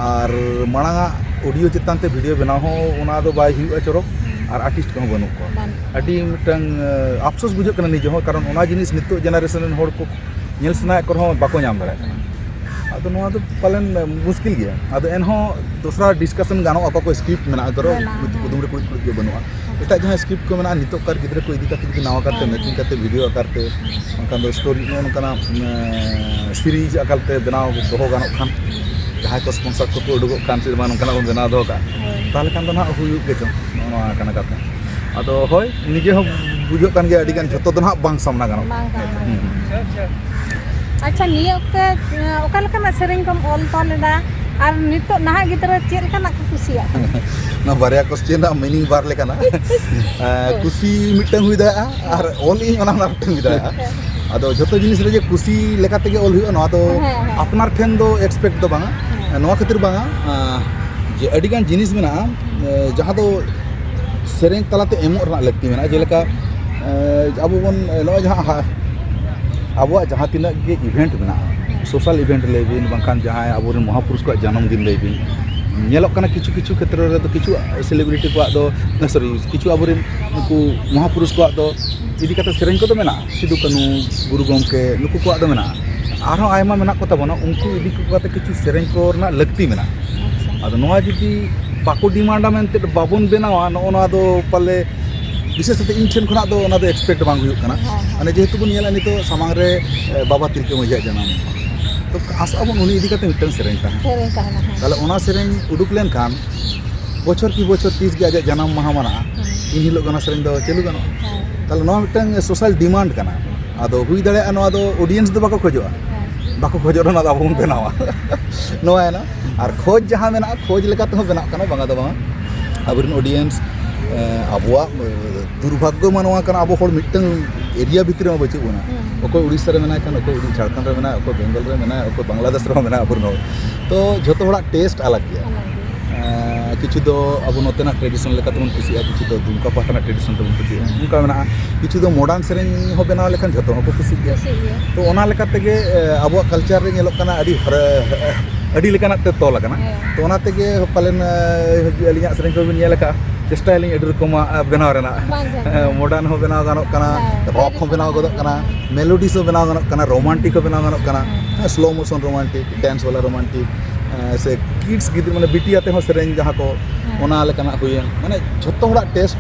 ᱟᱨ ᱢᱟᱲᱟᱝ ᱟᱜ ᱚᱰᱤᱭᱳ ᱪᱮᱛᱟᱱ ᱛᱮ ᱵᱷᱤᱰᱤᱭᱳ ᱵᱮᱱᱟᱣ ᱦᱚᱸ ᱚᱱᱟ ᱫᱚ ᱵᱟᱭ ᱦᱩᱭᱩᱜᱼᱟ ᱪᱚᱨᱚᱠ ᱟᱨ ᱟᱨᱴᱤᱥᱴ ᱠᱚᱦᱚᱸ ᱵᱟᱹᱱᱩᱜ ᱠᱚᱣᱟ ᱟᱹᱰᱤ ᱢᱤᱫᱴᱟᱝ ᱟᱯᱥᱳᱥ ᱵᱩᱡᱷᱟᱹᱜ ᱠᱟᱱᱟ ᱱᱤᱡᱮ ᱦᱚᱸ ᱠᱟᱨᱚᱱ ᱚᱱᱟ ᱡᱤᱱᱤᱥ ᱱᱤᱛᱚᱜ ᱡᱮᱱᱟᱨᱮᱥᱚᱱ ᱨᱮᱱ ᱦᱚᱲ ᱠᱚ ᱧᱮᱞ ᱥᱟᱱᱟᱭᱮᱫ ᱠᱚ ᱨᱮᱦᱚᱸ ᱵᱟᱠᱚ ᱧᱟᱢ ᱫᱟᱲᱮᱭᱟᱜ ᱠᱟᱱᱟ ᱟᱫᱚ ᱱᱚᱣᱟ ᱫᱚ ᱯᱟᱞᱮᱱ ᱢᱩᱥᱠᱤᱞ ᱜᱮᱭᱟ ᱟᱫᱚ ᱮᱱᱦᱚᱸ ᱫᱚᱥᱨᱟ ᱰᱤᱥᱠᱟᱥᱚᱱ ᱜᱟᱱᱚᱜᱼᱟ ᱚᱠᱟ ᱠᱚ ᱥᱠᱨᱤᱯᱴ ᱢᱮᱱᱟᱜᱼᱟ ᱫᱷᱚᱨᱚ ᱠᱩᱫᱩᱢ ᱨᱮ ᱠᱩᱬᱤᱫ ᱠᱩᱬᱤᱫ ᱜᱮ ᱵᱟᱹᱱᱩᱜᱼᱟ ᱮᱴᱟᱜ ᱡᱟᱦᱟᱸ ᱥᱠᱨᱤᱯᱴ ᱠᱚ ᱢᱮᱱᱟᱜᱼᱟ ᱱᱤᱛᱚᱜ ᱠᱟᱨ ᱜᱤᱫᱽᱨᱟᱹ ᱠᱚ ᱤᱫᱤ ᱠᱟᱛᱮ ᱡᱩᱫᱤ ᱱᱟᱣᱟ ᱠᱟᱨᱛᱮ ᱢᱮᱠᱤᱝ ᱠᱟᱛᱮ ᱵᱷᱤᱰᱤᱭᱳ ᱟᱠᱟᱨᱛᱮ ᱵᱟᱝᱠᱷᱟᱱ ᱫᱚ ᱥᱴᱳᱨᱤ ᱱᱚᱜᱼᱚ ᱱᱚᱝᱠᱟᱱᱟᱜ ᱥᱤᱨᱤᱡᱽ ᱟᱠᱟᱨᱛᱮ ᱵᱮᱱᱟᱣ ᱫᱚᱦᱚ ᱜᱟᱱᱚᱜ ᱠᱷᱟᱱ ᱡᱟᱦᱟᱸᱭ ᱠᱚ ᱥᱯᱚᱱᱥᱚᱨ ᱠᱚᱠᱚ ᱩᱰᱩᱠᱚᱜ ᱠᱟᱱ ᱪᱮᱫ ᱵᱟᱝ ᱱᱚᱝᱠᱟᱱᱟᱜ ᱵᱚᱱ ᱵᱮᱱᱟᱣ ᱫᱚᱦᱚ ᱠᱟᱜᱼᱟ ᱛᱟᱦᱚᱞᱮ ᱠᱷᱟᱱ ᱫᱚ ᱱᱟᱦᱟᱜ ᱦᱩᱭᱩᱜ ᱜᱮᱪᱚ ᱱᱚᱜᱼᱚ ᱱᱚᱣᱟ ᱠᱟᱱᱟ ᱠᱟᱛᱷᱟ ᱟᱫᱚ ᱦᱳᱭ ᱱᱤᱡᱮ ᱦᱚᱸ ᱵᱩᱡᱷᱟᱹᱜ ᱠᱟᱱ ᱜᱮᱭᱟ ᱟᱹᱰᱤ ᱜᱟᱱ ᱡᱷᱚᱛᱚ ᱫᱚ ᱱᱟᱦᱟᱜ ᱵᱟᱝ ᱥᱟᱢᱱᱟ ᱜᱟᱱᱚᱜ ᱟᱪᱪᱷᱟ ᱱᱤᱭᱟᱹ ᱚᱠᱛᱮ ᱚᱠᱟ ᱞᱮᱠᱟᱱᱟᱜ ᱥᱮᱨᱮᱧ ᱠᱚᱢ ᱚᱞ ᱛᱚᱞ ᱮᱫᱟ ᱟᱨ ᱱᱤᱛᱚᱜ ᱱᱟᱦᱟᱜ ᱜᱤᱫᱽᱨᱟᱹ ᱪᱮᱫ ᱞᱮᱠᱟᱱᱟᱜ ᱠᱚ ᱠᱩᱥᱤᱭᱟᱜ ᱠᱟᱱᱟ ᱱᱚᱣᱟ ᱵᱟᱨᱭᱟ ᱠᱚᱥᱪᱮᱱ ᱨᱮᱱᱟᱜ ᱢᱤᱱᱤᱝ ᱵᱟᱨ ᱞᱮᱠᱟᱱᱟ ᱠᱩᱥᱤ ᱢᱤᱫᱴᱟᱝ ᱦᱩᱭ ᱫᱟᱲᱮᱭᱟᱜᱼᱟ ᱟᱨ ᱚᱞ ᱤᱧ ᱚᱱᱟ ᱦᱚᱸ ᱢᱤᱫᱴᱟᱝ ᱦᱩᱭ ᱫᱟᱲᱮᱭᱟᱜᱼᱟ ᱟᱫᱚ ᱡᱚᱛᱚ ᱡᱤᱱᱤᱥ ᱨᱮᱜᱮ ᱠᱩᱥᱤ ᱞᱮᱠᱟ ᱛᱮᱜᱮ ᱚᱞ ᱦᱩᱭᱩᱜᱼᱟ ᱱᱚᱣᱟ ᱫᱚ ᱟᱯᱱᱟᱨ ᱴᱷᱮᱱ ᱫᱚ ᱮᱠᱥᱯᱮᱠᱴ ᱫᱚ ᱵᱟᱝᱟ ᱱᱚᱣᱟ ᱠᱷᱟᱹᱛᱤᱨ ᱵᱟᱝᱟ ᱡᱮ ᱟᱹᱰᱤ ᱜᱟᱱ ᱡᱤᱱᱤᱥ ᱢᱮᱱᱟᱜᱼᱟ ᱡᱟᱦᱟᱸ ᱫᱚ ᱥᱮᱨᱮᱧ ᱛᱟᱞᱟᱛᱮ ᱮᱢᱚᱜ ᱨᱮᱱᱟᱜ ᱞᱟᱹᱠᱛᱤ ᱢᱮᱱᱟᱜᱼᱟ ᱡᱮᱞᱮᱠᱟ ᱟᱵᱚ ᱵᱚᱱ ᱱᱚᱜᱼᱚᱭ ᱡᱟᱦᱟᱸ ᱟᱵᱚᱣᱟᱜ ᱡᱟᱦᱟᱸ ᱛᱤᱱᱟᱹᱜ ᱜᱮ ᱤᱵᱷᱮᱱᱴ ᱢᱮᱱᱟᱜᱼᱟ ᱥᱳᱥᱟᱞ ᱤᱵᱷᱮᱱᱴ ᱞᱟᱹᱭ ᱵᱤᱱ ᱵᱟᱝᱠᱷᱟᱱ ᱡᱟᱦᱟᱸᱭ ᱟᱵᱚᱨᱮᱱ ᱢᱚᱦᱟ ᱯᱩᱨᱩᱥ ᱠᱚᱣᱟᱜ ᱡᱟᱱᱟᱢ ᱫᱤᱱ ᱞᱟᱹᱭ ᱵᱤᱱ ᱧᱮᱞᱚᱜ ᱠᱟᱱᱟ ᱠᱤᱪᱷᱩ ᱠᱤᱪᱷᱩ ᱠᱷᱮᱛᱨᱮ ᱨᱮᱫᱚ ᱠᱤᱪᱷᱩ ᱥᱮᱞᱤᱵᱨᱤᱴᱤ ᱠᱚᱣᱟᱜ ᱫᱚ ᱥᱚᱨᱤ ᱠᱤᱪᱷᱩ ᱟᱵᱚᱨᱮᱱ ᱩᱱᱠᱩ ᱢᱚᱦᱟ ᱯᱩᱨᱩᱥ ᱠᱚᱣᱟᱜ ᱫᱚ ᱤᱫᱤ ᱠᱟᱛᱮᱫ ᱥᱮᱨᱮᱧ ᱠᱚᱫᱚ ᱢᱮᱱᱟᱜᱼᱟ ᱥᱤᱫᱩ ᱠᱟᱹᱱᱩ ᱜᱩᱨᱩ ᱜᱚᱢᱠᱮ ᱱᱩᱠᱩ ᱠᱚᱣᱟᱜ ᱫᱚ ᱢᱮᱱᱟᱜᱼᱟ ᱟᱨᱦᱚᱸ ᱟᱭᱢᱟ ᱢᱮᱱᱟᱜ ᱠᱚᱛᱟ ᱵᱚᱱᱟ ᱩᱱᱠᱩ ᱤᱫᱤ ᱠᱟᱛᱮᱫ ᱠᱤᱪᱷᱩ ᱥᱮᱨᱮᱧ ᱠᱚ ᱨᱮᱱᱟᱜ ᱞᱟᱹᱠᱛᱤ ᱢᱮᱱᱟᱜᱼᱟ ᱟᱫᱚ ᱱᱚᱣᱟ ᱡᱩᱫᱤ ᱵᱟᱠᱚ ᱰᱤᱢᱟᱱᱰᱟ ᱢᱮᱱᱛᱮ ᱵᱟᱵᱚᱱ ᱵᱮᱱᱟᱣᱟ ᱱᱚᱜᱼᱚ ᱱᱚᱣᱟ ᱫᱚ ᱯᱟᱞᱮ ᱵᱤᱥᱮᱥ ᱠᱟᱛᱮ ᱤᱧ ᱴᱷᱮᱱ ᱠᱷᱚᱱᱟᱜ ᱫᱚ ᱚᱱᱟ ᱫᱚ ᱮᱠᱥᱯᱮᱠᱴ ᱵᱟᱝ ᱦᱩᱭᱩᱜ ᱠᱟᱱᱟ ᱢᱟᱱᱮ ᱡᱮᱦᱮᱛᱩ ᱵᱚᱱ ᱧᱮᱞᱟ ᱱᱤᱛᱚᱜ ᱥᱟᱢᱟᱝ ᱨᱮ ᱵᱟᱵᱟ ᱛᱤᱞᱠᱟᱹ ᱢᱟᱹᱡᱷᱤᱭᱟᱜ ᱡᱟᱱᱟᱢ ᱢᱟᱦᱟ ᱛᱚ ᱟᱥᱟᱜ ᱟᱵᱚᱱ ᱩᱱᱤ ᱤᱫᱤ ᱠᱟᱛᱮ ᱢᱤᱫᱴᱟᱝ ᱥᱮᱨᱮᱧ ᱛᱟᱦᱮᱱᱟ ᱥᱮᱨᱮᱧ ᱛᱟᱦᱮᱱᱟ ᱛᱟᱦᱚᱞᱮ ᱚᱱᱟ ᱥᱮᱨᱮᱧ ᱩᱰᱩᱠ ᱞᱮᱱᱠᱷᱟᱱ ᱵᱚᱪᱷᱚᱨ ᱠᱤ ᱵᱚᱪᱷᱚᱨ ᱛᱤᱥ ᱜᱮ ᱟᱡᱟᱜ ᱡᱟᱱᱟᱢ ᱢᱟᱦᱟ ᱢᱟᱱᱟᱜᱼᱟ ᱤᱱ ᱦᱤᱞᱳᱜ ᱚᱱᱟ ᱥᱮᱨᱮᱧ ᱫᱚ ᱪᱟᱹᱞᱩ ᱜᱟᱱᱚᱜᱼᱟ ᱛᱟᱦᱚᱞᱮ ᱱᱚᱣᱟ ᱢᱤᱫᱴᱟᱝ ᱥᱳᱥᱟᱞ ᱰᱤᱢᱟᱱᱰ ᱠᱟᱱᱟ ᱟᱫᱚ ᱦᱩᱭ ᱫᱟᱲᱮᱭᱟᱜᱼᱟ ᱱᱚᱣᱟ ᱫᱚ ᱚᱰᱤᱭᱮᱱᱥ ᱫᱚ ᱵᱟᱠᱚ ᱠᱷᱚᱡᱚᱜᱼᱟ ᱵᱟᱠᱚ ᱠᱷᱚᱡᱚᱜ ᱨᱮᱦᱚᱸ ᱟᱵᱚ ᱵᱚᱱ ᱵᱮᱱᱟᱣᱟ ᱱᱚᱣᱟ ᱮᱱᱟ ᱟᱨ ᱠᱷᱚᱡᱽ ᱡᱟᱦᱟᱸ ᱢᱮᱱᱟᱜᱼᱟ ᱠᱷᱚᱡᱽ ᱞᱮᱠᱟ ᱛᱮᱦᱚᱸ ᱵᱮᱱᱟᱜ ᱠᱟᱱᱟ ᱵᱟᱝᱟ ᱫᱚ ᱵᱟᱝᱟ ᱟᱵᱚ ᱨᱮᱱ ᱚᱰᱤᱭᱮᱱᱥ ᱟᱵᱚᱣᱟᱜ ᱫᱩᱨᱵᱷᱟᱜᱽᱜᱚ ᱢᱟ ᱱᱚᱣᱟ ᱠᱟᱱᱟ ᱟᱵᱚ ᱦᱚᱲ ᱢᱤᱫᱴᱟᱹᱝ ᱮᱨᱤᱭᱟ ᱵᱷᱤᱛᱨᱤ ᱨᱮᱢᱟ ᱵᱟᱹᱪᱩᱜ ᱵᱚᱱᱟ ᱚᱠᱚᱭ ᱩᱲᱤᱥᱥᱟ ᱨᱮ ᱢᱮᱱᱟᱭ ᱠᱷᱟᱱ ᱚᱠᱚᱭ ᱡᱷᱟᱲᱠᱷᱚᱸᱰ ᱨᱮ ᱢᱮᱱᱟᱭᱟ ᱚᱠᱚᱭ ᱵᱮᱝᱜᱚᱞ ᱨᱮ ᱢᱮᱱᱟᱭᱟ ᱚᱠᱚᱭ ᱵᱟᱝᱞᱟᱫᱮᱥ ᱨᱮᱦᱚᱸ ᱢᱮᱱᱟᱭᱟ ᱟᱵᱚ ᱨᱮᱱ ᱦᱚᱲ ᱛᱚ ᱡᱚᱛᱚ ᱦᱚᱲᱟᱜ ᱴᱮᱥᱴ ᱟᱞᱟᱜᱽ ᱜᱮᱭᱟ ᱠᱤᱪᱷᱩ ᱫᱚ ᱟᱵᱚ ᱱᱚᱛᱮᱱᱟᱜ ᱴᱨᱮᱰᱤᱥᱚᱱ ᱞᱮᱠᱟ ᱛᱮᱵᱚᱱ ᱠᱩᱥᱤᱭᱟᱜᱼᱟ ᱠᱤᱪᱷᱩ ᱫᱚ ᱫᱩᱢᱠᱟ ᱯᱟᱦᱴᱟ ᱨᱮᱱᱟᱜ ᱴᱨᱮᱰᱤᱥᱚᱱ ᱛᱮᱵᱚᱱ ᱠᱩᱥᱤᱭᱟᱜᱼᱟ ᱚᱱᱠᱟ ᱢᱮᱱᱟᱜᱼᱟ ᱠᱤᱪᱷᱩ ᱫᱚ ᱢᱚᱰᱟᱨᱱ ᱥᱮᱨᱮᱧ ᱦᱚᱸ ᱵᱮᱱᱟᱣ ᱞᱮᱠᱷᱟᱱ ᱡᱚᱛᱚ ᱦᱚᱲ ᱠᱚ ᱠᱩᱥᱤᱜ ᱜᱮᱭᱟ ᱛᱚ ᱚᱱᱟ ᱞᱮᱠᱟ ᱛᱮᱜᱮ ᱟᱵᱚᱣᱟᱜ ᱠᱟᱞᱪᱟᱨ ᱨᱮ ᱧᱮᱞᱚᱜ ᱠᱟᱱᱟ ᱟᱹᱰᱤ ᱟᱹᱰᱤ ᱞᱮᱠᱟᱱᱟᱜ ᱛᱮ ᱛᱚᱞ ᱟᱠᱟᱱᱟ ᱛᱚ ᱚᱱᱟ ᱛᱮᱜᱮ ᱯᱟᱞᱮᱱ ᱟᱹᱞᱤᱧᱟᱜ ᱥᱮᱨᱮᱧ ᱠᱚᱵᱤᱱ ᱧᱮᱞ ᱟᱠᱟᱫᱼᱟ ᱪᱮᱥᱴᱟᱭᱟᱞᱤᱧ ᱟᱹᱰᱤ ᱨᱚᱠᱚᱢᱟᱜ ᱵᱮᱱᱟᱣ ᱨᱮᱱᱟᱜ ᱢᱚᱰᱟᱨᱱ ᱦᱚᱸ ᱵᱮᱱᱟᱣ ᱜᱟᱱᱚᱜ ᱠᱟᱱᱟ ᱨᱚᱠ ᱦᱚᱸ ᱵᱮᱱᱟᱣ ᱜᱚᱫᱚᱜ ᱠᱟᱱᱟ ᱢᱮᱞᱳᱰᱤᱥ ᱦᱚᱸ ᱵᱮᱱᱟᱣ ᱜᱟᱱᱚᱜ ᱠᱟᱱᱟ ᱨᱳᱢᱟᱱᱴᱤᱠ ᱦᱚᱸ ᱵᱮᱱᱟᱣ ᱜᱟᱱᱚᱜ ᱠᱟᱱᱟ ᱥᱞᱳ ᱢᱳᱥᱚᱱ ᱨᱳᱢᱟᱱᱴᱤᱠ ᱰᱮᱱᱥ ᱵᱟᱞᱟ ᱨᱳᱢᱟᱱᱴᱤᱠ ᱥᱮ ᱠᱤᱰᱥ ᱜᱤᱫᱽᱨᱟᱹ ᱢᱟᱱᱮ ᱵᱤᱴᱤ ᱟᱛᱮ ᱦᱚᱸ ᱥᱮᱨᱮᱧ ᱡᱟᱦᱟᱸ ᱠᱚ ᱚᱱᱟ ᱞᱮᱠᱟᱱᱟᱜ ᱦᱩᱭᱮᱱ ᱢᱟᱱᱮ ᱡᱷᱚᱛᱚ ᱦᱚᱲᱟᱜ ᱴᱮᱥᱴ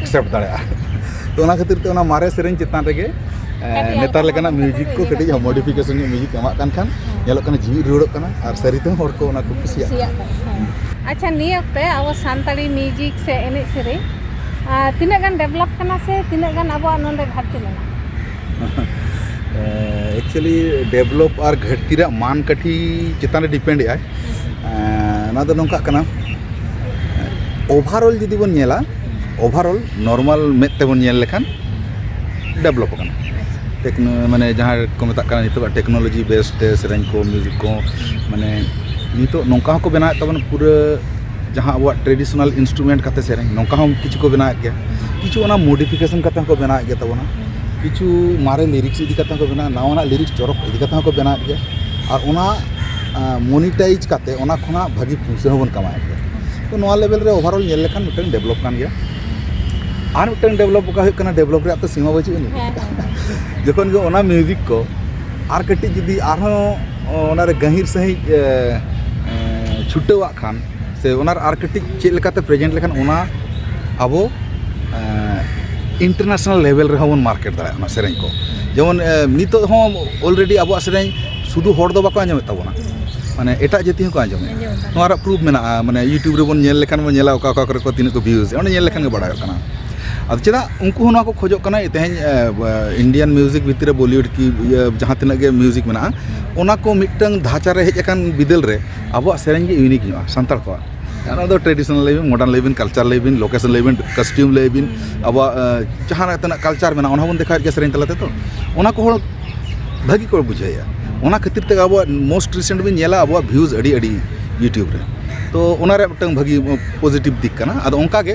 ᱮᱠᱥᱮᱯᱴ ᱫᱟᱲᱮᱭᱟᱜᱼᱟ ᱛᱚ ᱚᱱᱟ ᱠᱷᱟᱹᱛᱤᱨ ᱛᱮ ᱚᱱᱟ ᱢᱟᱨᱮ ᱥᱮᱨᱮᱧ ᱪᱮᱛᱟᱱ ᱨᱮᱜᱮ ᱱᱮᱛᱟᱨ ᱞᱮᱠᱟᱱᱟᱜ ᱢᱤᱭᱩᱡᱤᱠ ᱠᱚ ᱠᱟᱹᱴᱤᱡ ᱢᱚᱰᱤᱯᱷᱤᱠᱮᱥᱚᱱ ᱧᱚᱜ ᱢᱤᱭᱩᱡᱤᱠ ᱮᱢᱟᱜ ᱠᱟᱱ ᱠᱷᱟᱱ ᱧᱮᱞᱚᱜ ᱠᱟᱱᱟ ᱡᱤᱣᱤᱫ ᱨᱩᱣᱟᱹᱲᱚᱜ ᱠᱟᱱᱟ ᱟᱨ ᱥᱟᱹᱨᱤ ᱛᱮᱦᱚᱸ ᱦᱚᱲ ᱠᱚ ᱚᱱᱟ ᱠᱚ ᱠᱩᱥᱤᱭᱟᱜ ᱠᱟᱱᱟ ᱟᱪᱪᱷᱟ ᱱᱤᱭᱟᱹ ᱚᱠᱛᱮ ᱟᱵᱚ ᱥᱟᱱᱛᱟᱲᱤ ᱢᱤᱭᱩᱡᱤᱠ ᱥᱮ ᱮᱱᱮᱡ ᱥᱮᱨᱮᱧ ᱛᱤᱱᱟᱹᱜ ᱜᱟᱱ ᱰᱮᱵᱷᱞᱚᱯ ᱠᱟᱱᱟ ᱥᱮ ᱛᱤᱱᱟᱹᱜ ᱜᱟᱱ ᱟᱵᱚᱣᱟᱜ ᱱᱚᱰᱮ ᱜᱷᱟᱴᱛᱤ ᱢᱮᱱᱟᱜᱼᱟ ᱮᱠᱪᱩᱭᱮᱞᱤ ᱰᱮᱵᱷᱞᱚᱯ ᱟᱨ ᱜᱷᱟᱹᱴᱛᱤ ᱨᱮᱭᱟᱜ ᱢᱟᱱ ᱠᱟᱹᱴᱤᱡ ᱪᱮᱛᱟᱱ ᱨᱮ ᱰᱤᱯᱮᱱᱰ ᱮᱫᱟᱭ ᱚᱱᱟ ᱫᱚ ᱱᱚᱝᱠᱟᱜ ᱠᱟᱱᱟ ᱳᱵᱷᱟᱨᱚᱞ ᱡᱩᱫᱤ ᱵᱚᱱ ᱧᱮᱞᱟ ᱳᱵᱷᱟᱨᱚᱞ ᱱᱚᱨᱢᱟᱞ ᱢᱮᱫ ᱛᱮᱵᱚᱱ ᱧᱮᱞ ᱞᱮᱠᱷᱟᱱ ᱰᱮᱵᱷᱞᱚᱯ ᱟᱠᱟᱱᱟ ᱴᱮᱠᱱᱳ ᱢᱟᱱᱮ ᱡᱟᱦᱟᱸ ᱠᱚ ᱢᱮᱛᱟᱜ ᱠᱟᱱᱟ ᱱᱤᱛᱚᱜ ᱴᱮᱠᱱᱳᱞᱚᱡᱤ ᱵᱮᱥ ᱛᱮ ᱥᱮᱨᱮᱧ ᱠᱚ ᱢᱤᱭᱩᱡᱤᱠ ᱠᱚ ᱢᱟᱱᱮ ᱱᱤᱛᱚᱜ ᱱᱚᱝᱠᱟ ᱦᱚᱸᱠᱚ ᱵᱮᱱᱟᱣᱮᱫ ᱛᱟᱵᱚᱱᱟ ᱯᱩᱨᱟᱹ ᱡᱟᱦᱟᱸ ᱟᱵᱚᱣᱟᱜ ᱴᱨᱟᱰᱤᱥᱚᱱᱟᱞ ᱤᱱᱥᱴᱩᱢᱮᱱᱴ ᱠᱟᱛᱮ ᱥᱮᱨᱮᱧ ᱱᱚᱝᱠᱟ ᱦᱚᱸ ᱠᱤᱪᱷᱩ ᱠᱚ ᱵᱮᱱᱟᱣ ᱮᱫ ᱜᱮᱭᱟ ᱠᱤᱪᱷᱩ ᱚᱱᱟ ᱢᱳᱰᱤᱯᱷᱤᱠᱮᱥᱚᱱ ᱠᱟᱛᱮ ᱦᱚᱸᱠᱚ ᱵᱮᱱᱟᱣ ᱮᱫ ᱜᱮ ᱛᱟᱵᱚᱱᱟ ᱠᱤᱪᱷᱩ ᱢᱟᱨᱮ ᱞᱤᱨᱤᱠᱥ ᱤᱫᱤ ᱠᱟᱛᱮ ᱦᱚᱸᱠᱚ ᱵᱮᱱᱟᱣᱟ ᱱᱟᱣᱟᱱᱟᱜ ᱞᱤᱨᱤᱠᱥ ᱪᱚᱨᱚᱠ ᱤᱫᱤ ᱠᱟᱛᱮ ᱦᱚᱸᱠᱚ ᱵᱮᱱᱟᱣ ᱮᱫ ᱜᱮᱭᱟ ᱟᱨ ᱚᱱᱟ ᱢᱳᱱᱤᱴᱟᱭᱤᱡᱽ ᱠᱟᱛᱮ ᱚᱱᱟ ᱠᱷᱚᱱᱟᱜ ᱵᱷᱟᱹᱜᱤ ᱯᱩᱭᱥᱟᱹ ᱦᱚᱸᱵᱚᱱ ᱠᱟᱢᱟᱣ ᱮᱫ ᱜᱮᱭᱟ ᱛᱚ ᱱᱚᱣᱟ ᱞᱮᱵᱮᱞ ᱨᱮ ᱚᱵᱷᱟᱨ ᱚᱞ ᱧᱮᱞ ᱞᱮᱠᱷᱟᱱ ᱢᱤᱫᱴᱟᱝ ᱰᱮᱵᱷᱞᱚᱯ ᱠᱟᱱ ᱜᱮᱭᱟ ᱟᱨ ᱢᱤᱫᱴᱟᱝ ᱰᱮᱵᱷᱞᱚᱯ ᱚᱠᱟ ᱦᱩᱭᱩᱜ ᱠᱟᱱᱟ ᱰᱮᱵᱷᱞᱚᱯ ᱨᱮᱭᱟᱜ ᱛᱚ ᱥᱤᱢᱟᱹ ᱵᱟᱹᱪᱩᱜ ᱟᱹᱱᱤᱡ ᱡᱚᱠᱷᱚᱱ ᱜᱮ ᱚᱱᱟ ᱢᱤᱣᱡᱤᱠ ᱠᱚ ᱟᱨ ᱠᱟᱹᱴᱤᱡ ᱡᱩᱫᱤ ᱟᱨᱦᱚᱸ ᱚᱱᱟᱨᱮ ᱜᱟᱹᱦᱤᱨ ᱥᱟᱺᱦᱤᱡ ᱪᱷᱩᱴᱟᱹᱣᱟᱜ ᱠᱷᱟᱱ ᱥᱮ ᱚᱱᱟ ᱟᱨ ᱠᱟᱹᱴᱤᱡ ᱪᱮᱫ ᱞᱮᱠᱟᱛᱮ ᱯᱨᱮᱡᱮᱱᱴ ᱞᱮᱠᱷᱟᱱ ᱚᱱᱟ ᱟᱵᱚ ᱤᱱᱴᱟᱨᱱᱮᱥᱱᱮᱞ ᱞᱮᱵᱮᱞ ᱨᱮᱦᱚᱸ ᱵᱚᱱ ᱢᱟᱨᱠᱮᱴ ᱫᱟᱲᱮᱭᱟᱜᱼᱟ ᱚᱱᱟ ᱥᱮᱨᱮᱧ ᱠᱚ ᱡᱮᱢᱚᱱ ᱱᱤᱛᱚᱜ ᱦᱚᱸ ᱚᱞᱨᱮᱰᱤ ᱟᱵᱚᱣᱟᱜ ᱥᱮᱨᱮᱧ ᱥᱩᱫᱷᱩ ᱦᱚᱲ ᱫᱚ ᱵᱟᱠᱚ ᱟᱸᱡᱚᱢᱮᱜ ᱛᱟᱵᱚᱱᱟ ᱢᱟᱱᱮ ᱮᱴᱟᱜ ᱡᱟᱹᱛᱤ ᱦᱚᱸᱠᱚ ᱟᱸᱡᱚᱢᱮᱜᱼᱟ ᱱᱚᱣᱟ ᱨᱮᱭᱟᱜ ᱯᱨᱩᱯᱷ ᱢᱮᱱᱟᱜᱼᱟ ᱢᱟᱱᱮ ᱤᱭᱩᱴᱩᱵᱽ ᱨᱮᱵᱚᱱ ᱧᱮᱞ ᱞᱮᱠᱷᱟᱱ ᱵᱚᱱ ᱧᱮᱞᱟ ᱚᱠᱟ ᱚᱠᱟ ᱠᱚᱨᱮ ᱛᱤᱱᱟᱹᱜ ᱠᱚ ᱵᱷᱤᱭᱩᱡᱽ ᱮᱫᱟ ᱚᱸᱰᱮ ᱧᱮᱞ ᱞᱮᱠᱷᱟᱱ ᱜᱮ ᱵᱟᱲᱟᱭᱚᱜ ᱠᱟᱱᱟ ᱟᱫᱚ ᱪᱮᱫᱟᱜ ᱩᱱᱠᱩ ᱦᱚᱸ ᱱᱚᱣᱟ ᱠᱚ ᱠᱷᱚᱡᱚᱜ ᱠᱟᱱᱟ ᱛᱮᱦᱮᱧ ᱤᱱᱰᱤᱭᱟᱱ ᱢᱤᱣᱡᱤᱠ ᱵᱷᱤᱛᱨᱤ ᱨᱮ ᱵᱚᱞᱤᱣᱩᱰ ᱠᱤ ᱡᱟᱦᱟᱸ ᱛᱤᱱᱟᱹᱜ ᱜᱮ ᱢᱤᱣᱡᱤᱠ ᱢᱮᱱᱟᱜᱼᱟ ᱚᱱᱟ ᱠᱚ ᱢᱤᱫᱴᱟᱝ ᱫᱷᱟᱪᱟ ᱨᱮ ᱦᱮᱡ ᱟᱠᱟᱱ ᱵᱤᱫᱟᱹᱞ ᱨᱮ ᱟᱵᱚᱣᱟᱜ ᱥᱮᱨᱮᱧ ᱜᱮ ᱤᱭᱩᱱᱤᱠ ᱧᱚᱜᱼᱟ ᱥᱟᱱᱛᱟᱲ ᱠᱚᱣᱟᱜ ᱚᱱᱟ ᱫᱚ ᱴᱨᱮᱰᱤᱥᱚᱱᱟᱞ ᱞᱟᱹᱭ ᱵᱤᱱ ᱢᱚᱰᱟᱨᱱ ᱞᱟᱹᱭ ᱵᱤᱱ ᱠᱟᱞᱪᱟᱨ ᱞᱟᱹᱭ ᱵᱤᱱ ᱞᱳᱠᱮᱥᱚᱱ ᱞᱟᱹᱭ ᱵᱤᱱ ᱠᱚᱥᱴᱤᱭᱩᱢ ᱞᱟᱹᱭ ᱵᱤᱱ ᱟᱵᱚᱣᱟᱜ ᱡᱟᱦᱟᱸ ᱛᱤᱱᱟᱹᱜ ᱠᱟᱞᱪᱟᱨ ᱢᱮᱱᱟᱜᱼᱟ ᱚᱱᱟ ᱦᱚᱸᱵᱚᱱ ᱫᱮᱠᱷᱟᱣᱮᱫ ᱜᱮᱭᱟ ᱥᱮᱨᱮᱧ ᱛᱟᱞᱟ ᱛᱮᱫᱚ ᱚᱱᱟ ᱠᱚ ᱦᱚᱲ ᱵᱷᱟᱹᱜᱤ ᱠᱚ ᱵᱩᱡᱷᱟᱹᱣᱮᱜᱼᱟ ᱚᱱᱟ ᱠᱷᱟᱹᱛᱤᱨ ᱛᱮᱜᱮ ᱟᱵᱚᱣᱟᱜ ᱢᱳᱥᱴ ᱨᱤᱥᱮᱱᱴ ᱵᱤᱱ ᱧᱮᱞᱟ ᱟᱵᱚᱣᱟᱜ ᱵᱷᱤᱭᱩᱡᱽ ᱟᱹᱰᱤ ᱟᱹᱰᱤ ᱤᱭᱩᱴᱩᱵᱽ ᱨᱮ ᱛᱳ ᱚᱱᱟ ᱨᱮᱭᱟᱜ ᱢᱤᱫᱴᱟᱝ ᱵᱷᱟᱹᱜᱤ ᱯᱚᱡᱮᱴᱤᱵᱽ ᱫᱤᱠ ᱠᱟᱱᱟ ᱟᱫᱚ ᱚᱱᱠᱟ ᱜᱮ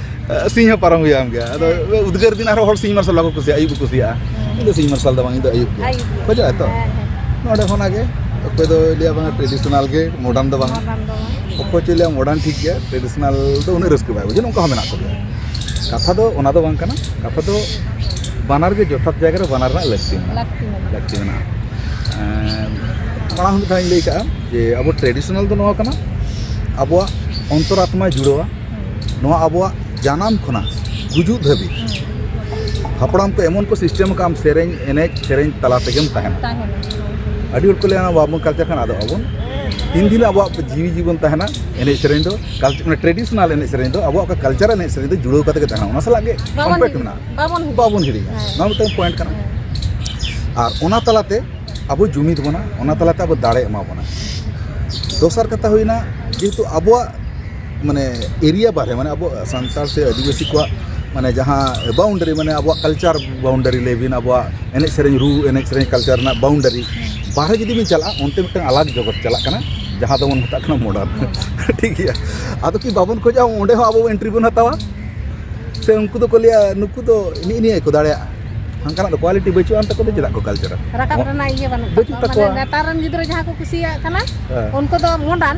ᱥᱤᱧ ᱦᱚᱸ ᱯᱟᱨᱚᱢ ᱦᱩᱭᱩᱜᱼᱟ ᱜᱮᱭᱟ ᱟᱫᱚ ᱩᱫᱽᱜᱟᱹᱨ ᱫᱤᱱ ᱟᱨᱦᱚᱸ ᱦᱚᱲ ᱥᱤᱧ ᱢᱟᱨᱥᱟᱞ ᱵᱟᱠᱚ ᱠᱩᱥᱤᱭᱟᱜᱼᱟ ᱟᱹᱭᱩᱵ ᱠᱚ ᱠᱩᱥᱤᱭᱟᱜᱼᱟ ᱤᱧ ᱫᱚ ᱥᱤᱧ ᱢᱟᱨᱥᱟᱞ ᱫᱚ ᱵᱟᱝ ᱤᱧ ᱫᱚ ᱟᱹᱭᱩᱵ ᱜᱮ ᱠᱷᱚᱡᱚᱜᱼᱟ ᱛᱚ ᱱᱚᱰᱮ ᱠᱷᱚᱱᱟᱜ ᱜᱮ ᱚᱠᱚᱭ ᱫᱚ ᱞᱟᱹᱭᱟ ᱵᱟᱝ ᱴᱨᱮᱰᱤᱥᱚᱱᱟᱞ ᱜᱮ ᱢᱚᱰᱟᱨᱱ ᱫᱚ ᱵᱟᱝ ᱚᱠᱚᱭ ᱪᱚᱭ ᱞᱟᱹᱭᱟ ᱢᱚᱰᱟᱨᱱ ᱴᱷᱤᱠ ᱜᱮᱭᱟ ᱴᱨᱮᱰᱤᱥᱚᱱᱟᱞ ᱫᱚ ᱩᱱᱟᱹᱜ ᱨᱟᱹᱥᱠᱟᱹ ᱵᱟᱭ ᱵᱩᱡᱷᱟᱹᱜᱼᱟ ᱱᱚᱝᱠᱟ ᱦᱚᱸ ᱢᱮᱱᱟᱜ ᱠᱚᱜᱮᱭᱟ ᱠᱟᱛᱷᱟ ᱫᱚ ᱚᱱᱟ ᱫᱚ ᱵᱟᱝ ᱠᱟᱱᱟ ᱠᱟᱛᱷᱟ ᱫᱚ ᱵᱟᱱᱟᱨ ᱜᱮ ᱡᱚᱛᱷᱟᱛ ᱡᱟᱭᱜᱟ ᱨᱮ ᱵᱟᱱᱟᱨ ᱨᱮᱱᱟᱜ ᱞᱟᱹᱠᱛᱤ ᱢᱮᱱᱟᱜᱼᱟ ᱞᱟᱹᱠᱛᱤ ᱢᱮᱱᱟᱜᱼᱟ ᱢᱟᱲᱟᱝ ᱢᱤᱫ ᱫᱷᱟᱣ ᱤᱧ ᱞᱟᱹᱭ ᱠᱟᱜᱼᱟ ᱡᱮ ᱟᱵᱚ ᱴᱨᱮᱰᱤᱥᱚᱱᱟᱞ ᱫᱚ ᱱᱚᱣᱟ ᱠᱟᱱᱟ ᱟᱵᱚᱣᱟᱜ ᱚᱱᱛᱚᱨ ᱟᱛᱢᱟᱭ ᱡᱩᱲᱟᱹᱣᱟ ᱱᱚᱣᱟ ᱟᱵᱚᱣᱟᱜ ᱡᱟᱱᱟᱢ ᱠᱷᱚᱱᱟᱜ ᱜᱩᱡᱩᱜ ᱫᱷᱟᱹᱵᱤᱡ ᱦᱟᱯᱲᱟᱢ ᱠᱚ ᱮᱢᱚᱱ ᱠᱚ ᱥᱤᱥᱴᱮᱢ ᱟᱠᱟᱫ ᱟᱢ ᱥᱮᱨᱮᱧ ᱮᱱᱮᱡ ᱥᱮᱨᱮᱧ ᱛᱟᱞᱟ ᱛᱮᱜᱮᱢ ᱛᱟᱦᱮᱱᱟ ᱟᱹᱰᱤ ᱦᱚᱲ ᱠᱚ ᱞᱟᱹᱭᱟ ᱵᱟᱵᱚᱱ ᱠᱟᱞᱪᱟᱨ ᱠᱷᱟᱱ ᱟᱫᱚ ᱟᱵᱚᱱ ᱛᱤᱱ ᱫᱤᱱ ᱟᱵᱚᱣᱟᱜ ᱡᱤᱣᱤ ᱡᱤᱵᱚᱱ ᱛᱟᱦᱮᱱᱟ ᱮᱱᱮᱡ ᱥᱮᱨᱮᱧ ᱫᱚ ᱴᱨᱮᱰᱤᱥᱚᱱᱟᱞ ᱮᱱᱮᱡ ᱥᱮᱨᱮᱧ ᱫᱚ ᱟᱵᱚᱣᱟᱜ ᱚᱠᱟ ᱠᱟᱞᱪᱟᱨ ᱮᱱᱮᱡ ᱥᱮᱨᱮᱧ ᱫᱚ ᱡᱩᱲᱟᱹᱣ ᱠᱟᱛᱮ ᱜᱮ ᱛᱟᱦᱮᱱᱟ ᱚᱱᱟ ᱥᱟᱞᱟᱜ ᱜᱮ ᱠᱚᱢᱯᱮᱠᱴ ᱢᱮᱱᱟᱜᱼᱟ ᱵᱟᱵᱚᱱ ᱦᱤᱲᱤᱧᱟ ᱱᱚᱣᱟ ᱢᱤᱫᱴᱟᱝ ᱯᱚᱭᱮᱱᱴ ᱠᱟᱱᱟ ᱟᱨ ᱚᱱᱟ ᱛᱟᱞᱟᱛᱮ ᱟᱵᱚ ᱡᱩᱢᱤᱫ ᱵᱚᱱᱟ ᱚᱱᱟ ᱛᱟᱞᱟᱛᱮ ᱟᱵᱚ ᱫᱟᱲᱮ ᱮᱢᱟ ᱵᱚᱱᱟ ᱫᱚᱥᱟᱨ ᱠᱟᱛᱷᱟ ᱦᱩᱭᱱᱟ ᱡᱮᱦᱮᱛᱩ ᱟᱵᱚᱣᱟᱜ ᱢᱟᱱᱮ ᱮᱨᱤᱭᱟ ᱵᱟᱦᱨᱮ ᱢᱟᱱᱮ ᱟᱵᱚ ᱥᱟᱱᱛᱟᱲ ᱥᱮ ᱟᱹᱫᱤᱵᱟᱹᱥᱤ ᱠᱚᱣᱟᱜ ᱢᱟᱱᱮ ᱡᱟᱦᱟᱸ ᱵᱟᱣᱩᱱᱰᱟᱨᱤ ᱢᱟᱱᱮ ᱟᱵᱚᱣᱟᱜ ᱠᱟᱞᱪᱟᱨ ᱵᱟᱣᱩᱱᱰᱟᱨᱤ ᱞᱟᱹᱭ ᱵᱤᱱ ᱟᱵᱚᱣᱟᱜ ᱮᱱᱮᱡ ᱥᱮᱨᱮᱧ ᱨᱩ ᱮᱱᱮᱡ ᱥᱮᱨᱮᱧ ᱠᱟᱞᱪᱟᱨ ᱨᱮᱱᱟᱜ ᱵᱟᱣᱩᱱᱰᱟᱨᱤ ᱵᱟᱦᱨᱮ ᱡᱩᱫᱤ ᱵᱤᱱ ᱪᱟᱞᱟᱜᱼᱟ ᱚᱱᱛᱮ ᱢᱤᱫᱴᱟᱝ ᱟᱞᱟᱜᱽ ᱡᱚᱜᱚᱛ ᱪᱟᱞᱟᱜ ᱠᱟᱱᱟ ᱡᱟᱦᱟᱸ ᱫᱚᱵᱚᱱ ᱢᱮᱛᱟᱜ ᱠᱟᱱᱟ ᱢᱚᱰᱟᱨᱱ ᱴᱷᱤᱠ ᱜᱮᱭᱟ ᱟᱫᱚ ᱠᱤ ᱵᱟᱵᱚᱱ ᱠᱷᱚᱡᱟ ᱚᱸᱰᱮ ᱦᱚᱸ ᱟᱵᱚ ᱮᱱᱴᱨᱤ ᱵᱚᱱ ᱦᱟᱛᱟᱣᱟ ᱥᱮ ᱩᱱᱠᱩ ᱫᱚᱠᱚ ᱞᱟᱹᱭᱟ ᱱᱩᱠᱩ ᱫᱚ ᱱᱤᱜ ᱱᱤᱭᱟᱹ ᱜᱮᱠᱚ ᱫᱟᱲᱮᱭᱟᱜᱼᱟ ᱦᱟᱱᱠᱟᱱᱟᱜ ᱫᱚ ᱠᱳᱣᱟᱞᱤᱴᱤ ᱵᱟᱹᱪᱩᱜ ᱟᱱ ᱛᱟᱠᱚ ᱫᱚ ᱪᱮᱫᱟᱜ ᱠᱚ ᱠᱟᱞᱪᱟᱨᱟ ᱨᱟᱠᱟᱵ ᱨᱮᱱᱟᱜ ᱤᱭᱟᱹ ᱵᱟᱹᱱᱩᱜ ᱛᱟᱠᱚᱣᱟ ᱱᱮᱛᱟᱨ ᱨᱮᱱ ᱜᱤᱫᱽᱨᱟᱹ ᱡᱟᱦᱟᱸ ᱠᱚ ᱠᱩᱥᱤᱭᱟᱜ ᱠᱟᱱᱟ ᱩᱱᱠᱩ ᱫᱚ ᱢᱚᱰᱟᱨᱱ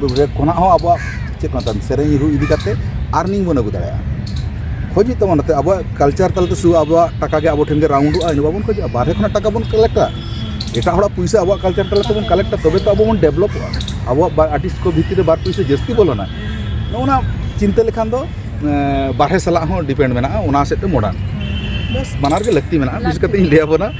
ᱵᱷᱮᱜᱟᱨ ᱠᱷᱚᱱᱟᱜ ᱦᱚᱸ ᱟᱵᱚᱣᱟᱜ ᱪᱮᱫ ᱠᱚ ᱢᱮᱛᱟᱜᱼᱟ ᱥᱮᱨᱮᱧ ᱨᱩ ᱤᱫᱤ ᱠᱟᱛᱮᱫ ᱟᱨᱱᱤᱝ ᱵᱚᱱ ᱟᱹᱜᱩ ᱫᱟᱲᱮᱭᱟᱜᱼᱟ ᱠᱷᱚᱡᱽ ᱦᱩᱭᱩᱜ ᱛᱟᱵᱚᱱᱟ ᱱᱚᱛᱮ ᱟᱵᱚᱣᱟᱜ ᱠᱟᱞᱪᱟᱨ ᱛᱟᱞᱟᱛᱮ ᱥᱩᱫᱷᱩ ᱟᱵᱚᱣᱟᱜ ᱴᱟᱠᱟ ᱜᱮ ᱟᱵᱚ ᱴᱷᱮᱱ ᱜᱮ ᱨᱟᱣᱩᱱᱰᱚᱜᱼᱟ ᱤᱱᱟᱹ ᱵᱟᱵᱚᱱ ᱠᱷᱚᱡᱚᱜᱼᱟ ᱵᱟᱦᱨᱮ ᱠᱷᱚᱱᱟᱜ ᱴᱟᱠᱟ ᱵᱚᱱ ᱠᱟᱞᱮᱠᱴᱼᱟ ᱮᱴᱟᱜ ᱦᱚᱲᱟᱜ ᱯᱩᱭᱥᱟᱹ ᱟᱵᱚᱣᱟᱜ ᱠᱟᱞᱪᱟᱨ ᱛᱟᱞᱟ ᱛᱮᱵᱚᱱ ᱠᱟᱞᱮᱠᱴᱼᱟ ᱛᱚᱵᱮ ᱛᱚ ᱟᱵᱚ ᱵᱚᱱ ᱰᱮᱵᱷᱞᱚᱯᱚᱜᱼᱟ ᱟᱵᱚᱣᱟᱜ ᱟᱨᱴᱤᱥᱴ ᱠᱚ ᱵᱷᱤᱛᱨᱤ ᱨᱮ ᱵᱟᱨ ᱯᱩᱭᱥᱟᱹ ᱡᱟᱹᱥᱛᱤ ᱵᱚᱞᱚᱱᱟ ᱱᱚᱜᱼᱚ ᱱᱟ ᱪᱤᱱᱛᱟᱹ ᱞᱮᱠᱷᱟᱱ ᱫᱚ ᱵᱟᱦᱨᱮ ᱥᱟᱞᱟᱜ ᱦᱚᱸ ᱰᱤᱯᱮᱱᱰ ᱢᱮᱱᱟᱜᱼᱟ ᱚᱱᱟ ᱥᱮᱫ ᱛᱮ ᱢᱚᱰᱟᱨᱱ ᱵᱮᱥ ᱵᱟᱱᱟᱨ ᱜᱮ ᱞᱟᱹᱠᱛᱤ ᱢᱮᱱᱟᱜᱼᱟ ᱵᱤᱥᱮᱥ ᱠᱟᱛᱮᱫ ᱤᱧ ᱞᱟᱹᱭ ᱟᱵᱚᱱᱟ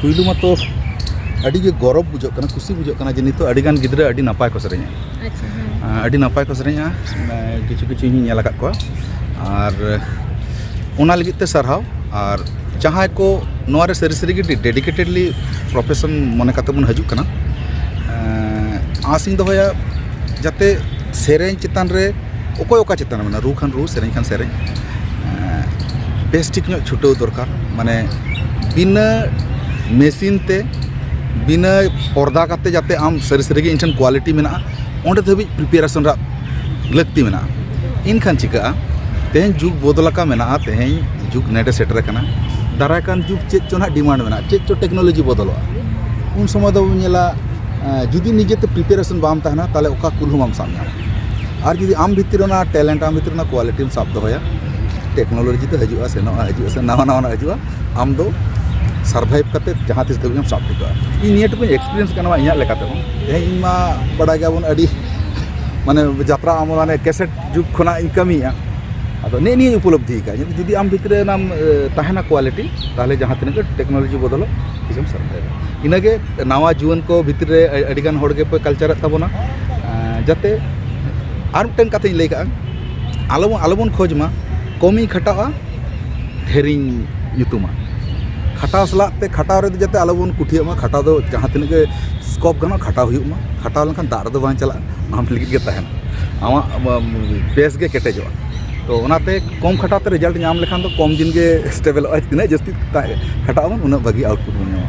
ᱯᱩᱭᱞᱩ ᱢᱟᱛᱚ ᱟᱹᱰᱤ ᱜᱮ ᱜᱚᱨᱚᱵᱽ ᱵᱩᱡᱷᱟᱹᱜ ᱠᱟᱱᱟ ᱠᱩᱥᱤ ᱵᱩᱡᱷᱟᱹᱜ ᱠᱟᱱᱟ ᱡᱮ ᱱᱤᱛᱚᱜ ᱟᱹᱰᱤ ᱜᱟᱱ ᱜᱤᱫᱽᱨᱟᱹ ᱟᱹᱰᱤ ᱱᱟᱯᱟᱭ ᱠᱚ ᱥᱮᱨᱮᱧᱟ ᱟᱹᱰᱤ ᱱᱟᱯᱟᱭ ᱠᱚ ᱥᱮᱨᱮᱧᱟ ᱠᱤᱪᱷᱩ ᱠᱤᱪᱷᱩ ᱤᱧ ᱧᱮᱞ ᱟᱠᱟᱫ ᱠᱚᱣᱟ ᱟᱨ ᱚᱱᱟ ᱞᱟᱹᱜᱤᱫ ᱛᱮ ᱥᱟᱨᱦᱟᱣ ᱟᱨ ᱡᱟᱦᱟᱸᱭ ᱠᱚ ᱱᱚᱣᱟ ᱨᱮ ᱥᱟᱹᱨᱤ ᱥᱟᱹᱨᱤ ᱜᱮ ᱰᱮᱰᱤᱠᱮᱴᱮᱰᱞᱤ ᱯᱨᱚᱯᱷᱮᱥᱚᱱ ᱢᱚᱱᱮ ᱠᱟᱛᱮ ᱵᱚᱱ ᱦᱤᱡᱩᱜ ᱠᱟᱱᱟ ᱟᱥ ᱤᱧ ᱫᱚᱦᱚᱭᱟ ᱡᱟᱛᱮ ᱥᱮᱨᱮᱧ ᱪᱮᱛᱟᱱ ᱨᱮ ᱚᱠᱚᱭ ᱚᱠᱟ ᱪᱮᱛᱟᱱ ᱨᱮ ᱢᱟᱱᱮ ᱨᱩ ᱠᱷᱟᱱ ᱨᱩ ᱥᱮᱨᱮᱧ ᱠᱷᱟᱱ ᱥᱮᱨᱮᱧ ᱵᱮᱥ ᱴᱷᱤᱠ ᱧᱚᱜ ᱪᱷᱩᱴᱟᱹᱣ ᱫᱚᱨᱠᱟᱨ ᱢᱟᱱᱮ ᱵᱤᱱᱟᱹ ᱢᱮᱥᱤᱱ ᱛᱮ ᱵᱤᱱᱟᱹ ᱯᱚᱨᱫᱟ ᱠᱟᱛᱮ ᱡᱟᱛᱮ ᱟᱢ ᱥᱟᱹᱨᱤ ᱥᱟᱹᱨᱤ ᱜᱮ ᱤᱧ ᱴᱷᱮᱱ ᱠᱳᱣᱟᱞᱤᱴᱤ ᱢᱮᱱᱟᱜᱼᱟ ᱚᱸᱰᱮ ᱫᱷᱟᱹᱵᱤᱡ ᱯᱨᱤᱯᱟᱨᱮᱥᱚᱱ ᱨᱮᱭᱟᱜ ᱞᱟᱹᱠᱛᱤ ᱢᱮᱱᱟᱜᱼᱟ ᱮᱱᱠᱷᱟᱱ ᱪᱤᱠᱟᱹᱜᱼᱟ ᱛᱮᱦᱮᱧ ᱡᱩᱜᱽ ᱵᱚᱫᱚᱞ ᱟᱠᱟᱱ ᱢᱮᱱᱟᱜᱼᱟ ᱛᱮᱦᱮᱧ ᱡᱩᱜᱽ ᱱᱮᱰᱮ ᱥᱮᱴᱮᱨ ᱟᱠᱟᱱᱟ ᱫᱟᱨᱟᱭ ᱠᱟᱱ ᱡᱩᱜᱽ ᱪᱮᱫ ᱪᱚ ᱦᱟᱸᱜ ᱰᱤᱢᱟᱱᱰ ᱢᱮᱱᱟᱜᱼᱟ ᱪᱮᱫ ᱪᱚ ᱴᱮᱠᱱᱳᱞᱚᱡᱤ ᱵᱚᱫᱚᱞᱚᱜᱼᱟ ᱩᱱ ᱥᱚᱢᱚᱭ ᱫᱚᱵᱚᱱ ᱧᱮᱞᱟ ᱡᱩᱫᱤ ᱱᱤᱡᱮᱛᱮ ᱯᱨᱤᱯᱟᱨᱮᱥᱚᱱ ᱵᱟᱢ ᱛᱟᱦᱮᱱᱟ ᱛᱟᱦᱚᱞᱮ ᱚᱠᱟ ᱠᱩᱞ ᱦᱚᱸ ᱵᱟᱢ ᱥᱟᱵ ᱧᱟᱢᱟ ᱟᱨ ᱡᱩᱫᱤ ᱟᱢ ᱵᱷᱤᱛᱤᱨ ᱨᱮ ᱚᱱᱟ ᱴᱮᱞᱮᱱᱴ ᱟᱢ ᱵᱷᱤᱛᱤᱨ ᱨᱮ ᱚᱱᱟ ᱠᱳᱣᱟᱞᱤᱴᱤᱢ ᱥᱟᱵ ᱫᱚᱦᱚᱭᱟ ᱴᱮᱠᱱᱳᱞᱚᱡᱤ ᱫᱚ ᱦᱤᱡᱩᱜᱼᱟ ᱥᱮᱱᱚᱜᱼᱟ ᱦᱤᱡᱩᱜᱼᱟ ᱥᱮᱱᱚᱜᱼᱟ ᱱᱟᱣᱟ ᱱᱟᱣᱟᱱᱟᱜ ᱦᱤᱡᱩᱜᱼᱟ ᱟᱢ ᱫᱚ ᱥᱟᱨᱵᱷᱟᱭᱤᱵᱷ ᱠᱟᱛᱮ ᱡᱟᱦᱟᱸ ᱛᱤᱥ ᱫᱷᱟᱹᱵᱤᱡ ᱮᱢ ᱥᱟᱵ ᱴᱷᱤᱠᱟᱹᱜᱼᱟ ᱤᱧ ᱱᱤᱭᱟᱹ ᱴᱩᱠᱩᱧ ᱮᱠᱥᱯᱨᱤᱭᱮᱱᱥ ᱠᱟᱱᱟ ᱤᱧᱟᱹᱜ ᱞᱮᱠᱟ ᱛᱮᱫᱚ ᱛᱮᱦᱮᱧ ᱤᱧ ᱢᱟ ᱵᱟᱰᱟᱭ ᱜᱮᱭᱟᱵᱚᱱ ᱟᱹᱰᱤ ᱢᱟᱱᱮ ᱡᱟᱛᱨᱟ ᱢᱟᱱᱮ ᱠᱮᱥᱮᱴ ᱡᱩᱜᱽ ᱠᱷᱚᱱᱟᱜ ᱤᱧ ᱠᱟᱹᱢᱤᱭᱮᱫᱼᱟ ᱟᱫᱚ ᱱᱮᱜᱼᱮ ᱱᱤᱭᱟᱹᱧ ᱩᱯᱚᱞᱚᱵᱽᱫᱷᱤ ᱟᱠᱟᱫᱼᱟ ᱡᱩᱫᱤ ᱟᱢ ᱵᱷᱤᱛᱨᱤ ᱨᱮ ᱚᱱᱟ ᱛᱟᱦᱮᱱᱟ ᱠᱳᱣᱟᱞᱤᱴᱤ ᱛᱟᱦᱚᱞᱮ ᱡᱟᱦᱟᱸ ᱛᱤᱱᱟᱹᱜ ᱜᱮ ᱴᱮᱠᱱᱳᱞᱚᱡᱤ ᱵᱚᱫᱚᱞᱚᱜ ᱛᱤᱥᱮᱢ ᱥᱟᱨᱵᱷᱟᱭᱤᱵᱷᱟ ᱤᱱᱟᱹᱜᱮ ᱱᱟᱣᱟ ᱡᱩᱣᱟᱹᱱ ᱠᱚ ᱵᱷᱤᱛᱨᱤ ᱨᱮ ᱟᱹᱰᱤ ᱜᱟᱱ ᱦᱚᱲ ᱜᱮᱯᱮ ᱠᱟᱞᱪᱟᱨᱮᱫ ᱛᱟᱵᱚᱱᱟ ᱡᱟᱛᱮ ᱟᱨ ᱢᱤᱫᱴᱮᱱ ᱠᱟᱛᱷᱟᱧ ᱞᱟᱹᱭ ᱠᱟᱜᱼᱟ ᱟᱞᱚ ᱵᱚᱱ ᱟᱞᱚ ᱵᱚᱱ ᱠᱷᱚᱡᱽ ᱢᱟ ᱠᱚᱢᱤᱧ ᱠᱷᱟᱴᱟᱜᱼᱟ ᱰᱷᱮᱨᱤᱧ ᱧᱩᱛᱩᱢᱟ ᱠᱷᱟᱴᱟᱣ ᱥᱟᱞᱟᱜ ᱛᱮ ᱠᱷᱟᱴᱟᱣ ᱨᱮᱫᱚ ᱡᱟᱛᱮ ᱟᱞᱚ ᱵᱚᱱ ᱠᱩᱴᱷᱤᱭᱟᱜ ᱢᱟ ᱠᱷᱟᱴᱟᱣ ᱫᱚ ᱡᱟᱦᱟᱸ ᱛᱤᱱᱟᱹᱜ ᱜᱮ ᱥᱠᱳᱯ ᱜᱟᱱᱚᱜ ᱠᱷᱟᱴᱟᱣ ᱦᱩᱭᱩᱜ ᱢᱟ ᱠᱷᱟᱴᱟᱣ ᱞᱮᱱᱠᱷᱟᱱ ᱫᱟᱜ ᱨᱮᱫᱚ ᱵᱟᱝ ᱪᱟᱞᱟᱜᱼᱟ ᱟᱢ ᱞᱟᱹᱜᱤᱫ ᱜᱮ ᱛᱟᱦᱮᱱᱟ ᱟᱢᱟᱜ ᱵᱮᱥ ᱜᱮ ᱠᱮᱴᱮᱡᱚᱜᱼᱟ ᱛᱚ ᱚᱱᱟᱛᱮ ᱠᱚᱢ ᱠᱷᱟᱴᱟᱣ ᱛᱮ ᱨᱮᱡᱟᱞᱴ ᱧᱟᱢ ᱞᱮᱠᱷᱟᱱ ᱫᱚ ᱠᱚᱢ ᱫᱤᱱ ᱜᱮ ᱥᱴᱮᱵᱮᱞᱚᱜᱼᱟ ᱛᱤᱱᱟᱹᱜ ᱡᱟᱹᱥᱛᱤ ᱠᱷᱟᱴᱟᱜ ᱟᱵᱚᱱ ᱩᱱᱟᱹᱜ ᱵᱷᱟᱹᱜᱤ ᱟᱣᱩᱴᱯᱩᱴ ᱵᱚᱱ ᱧᱟᱢᱟ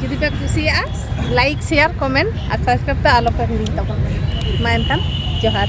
ᱡᱩᱫᱤ ᱯᱮ ᱠᱩᱥᱤᱭᱟᱜᱼᱟ ᱞᱟᱭᱤᱠ ᱥᱮᱭᱟᱨ ᱠᱚᱢᱮᱱᱴ ᱟᱨ ᱥᱟᱵᱥᱠᱨᱟᱭᱤᱵ ᱫᱚ ᱟᱞᱚ ᱯᱮ ᱦᱤᱲᱤᱧ ᱛᱟᱵᱚᱱᱟ ᱢᱟ ᱮᱱᱠᱷᱟᱱ ᱡᱚᱦᱟᱨ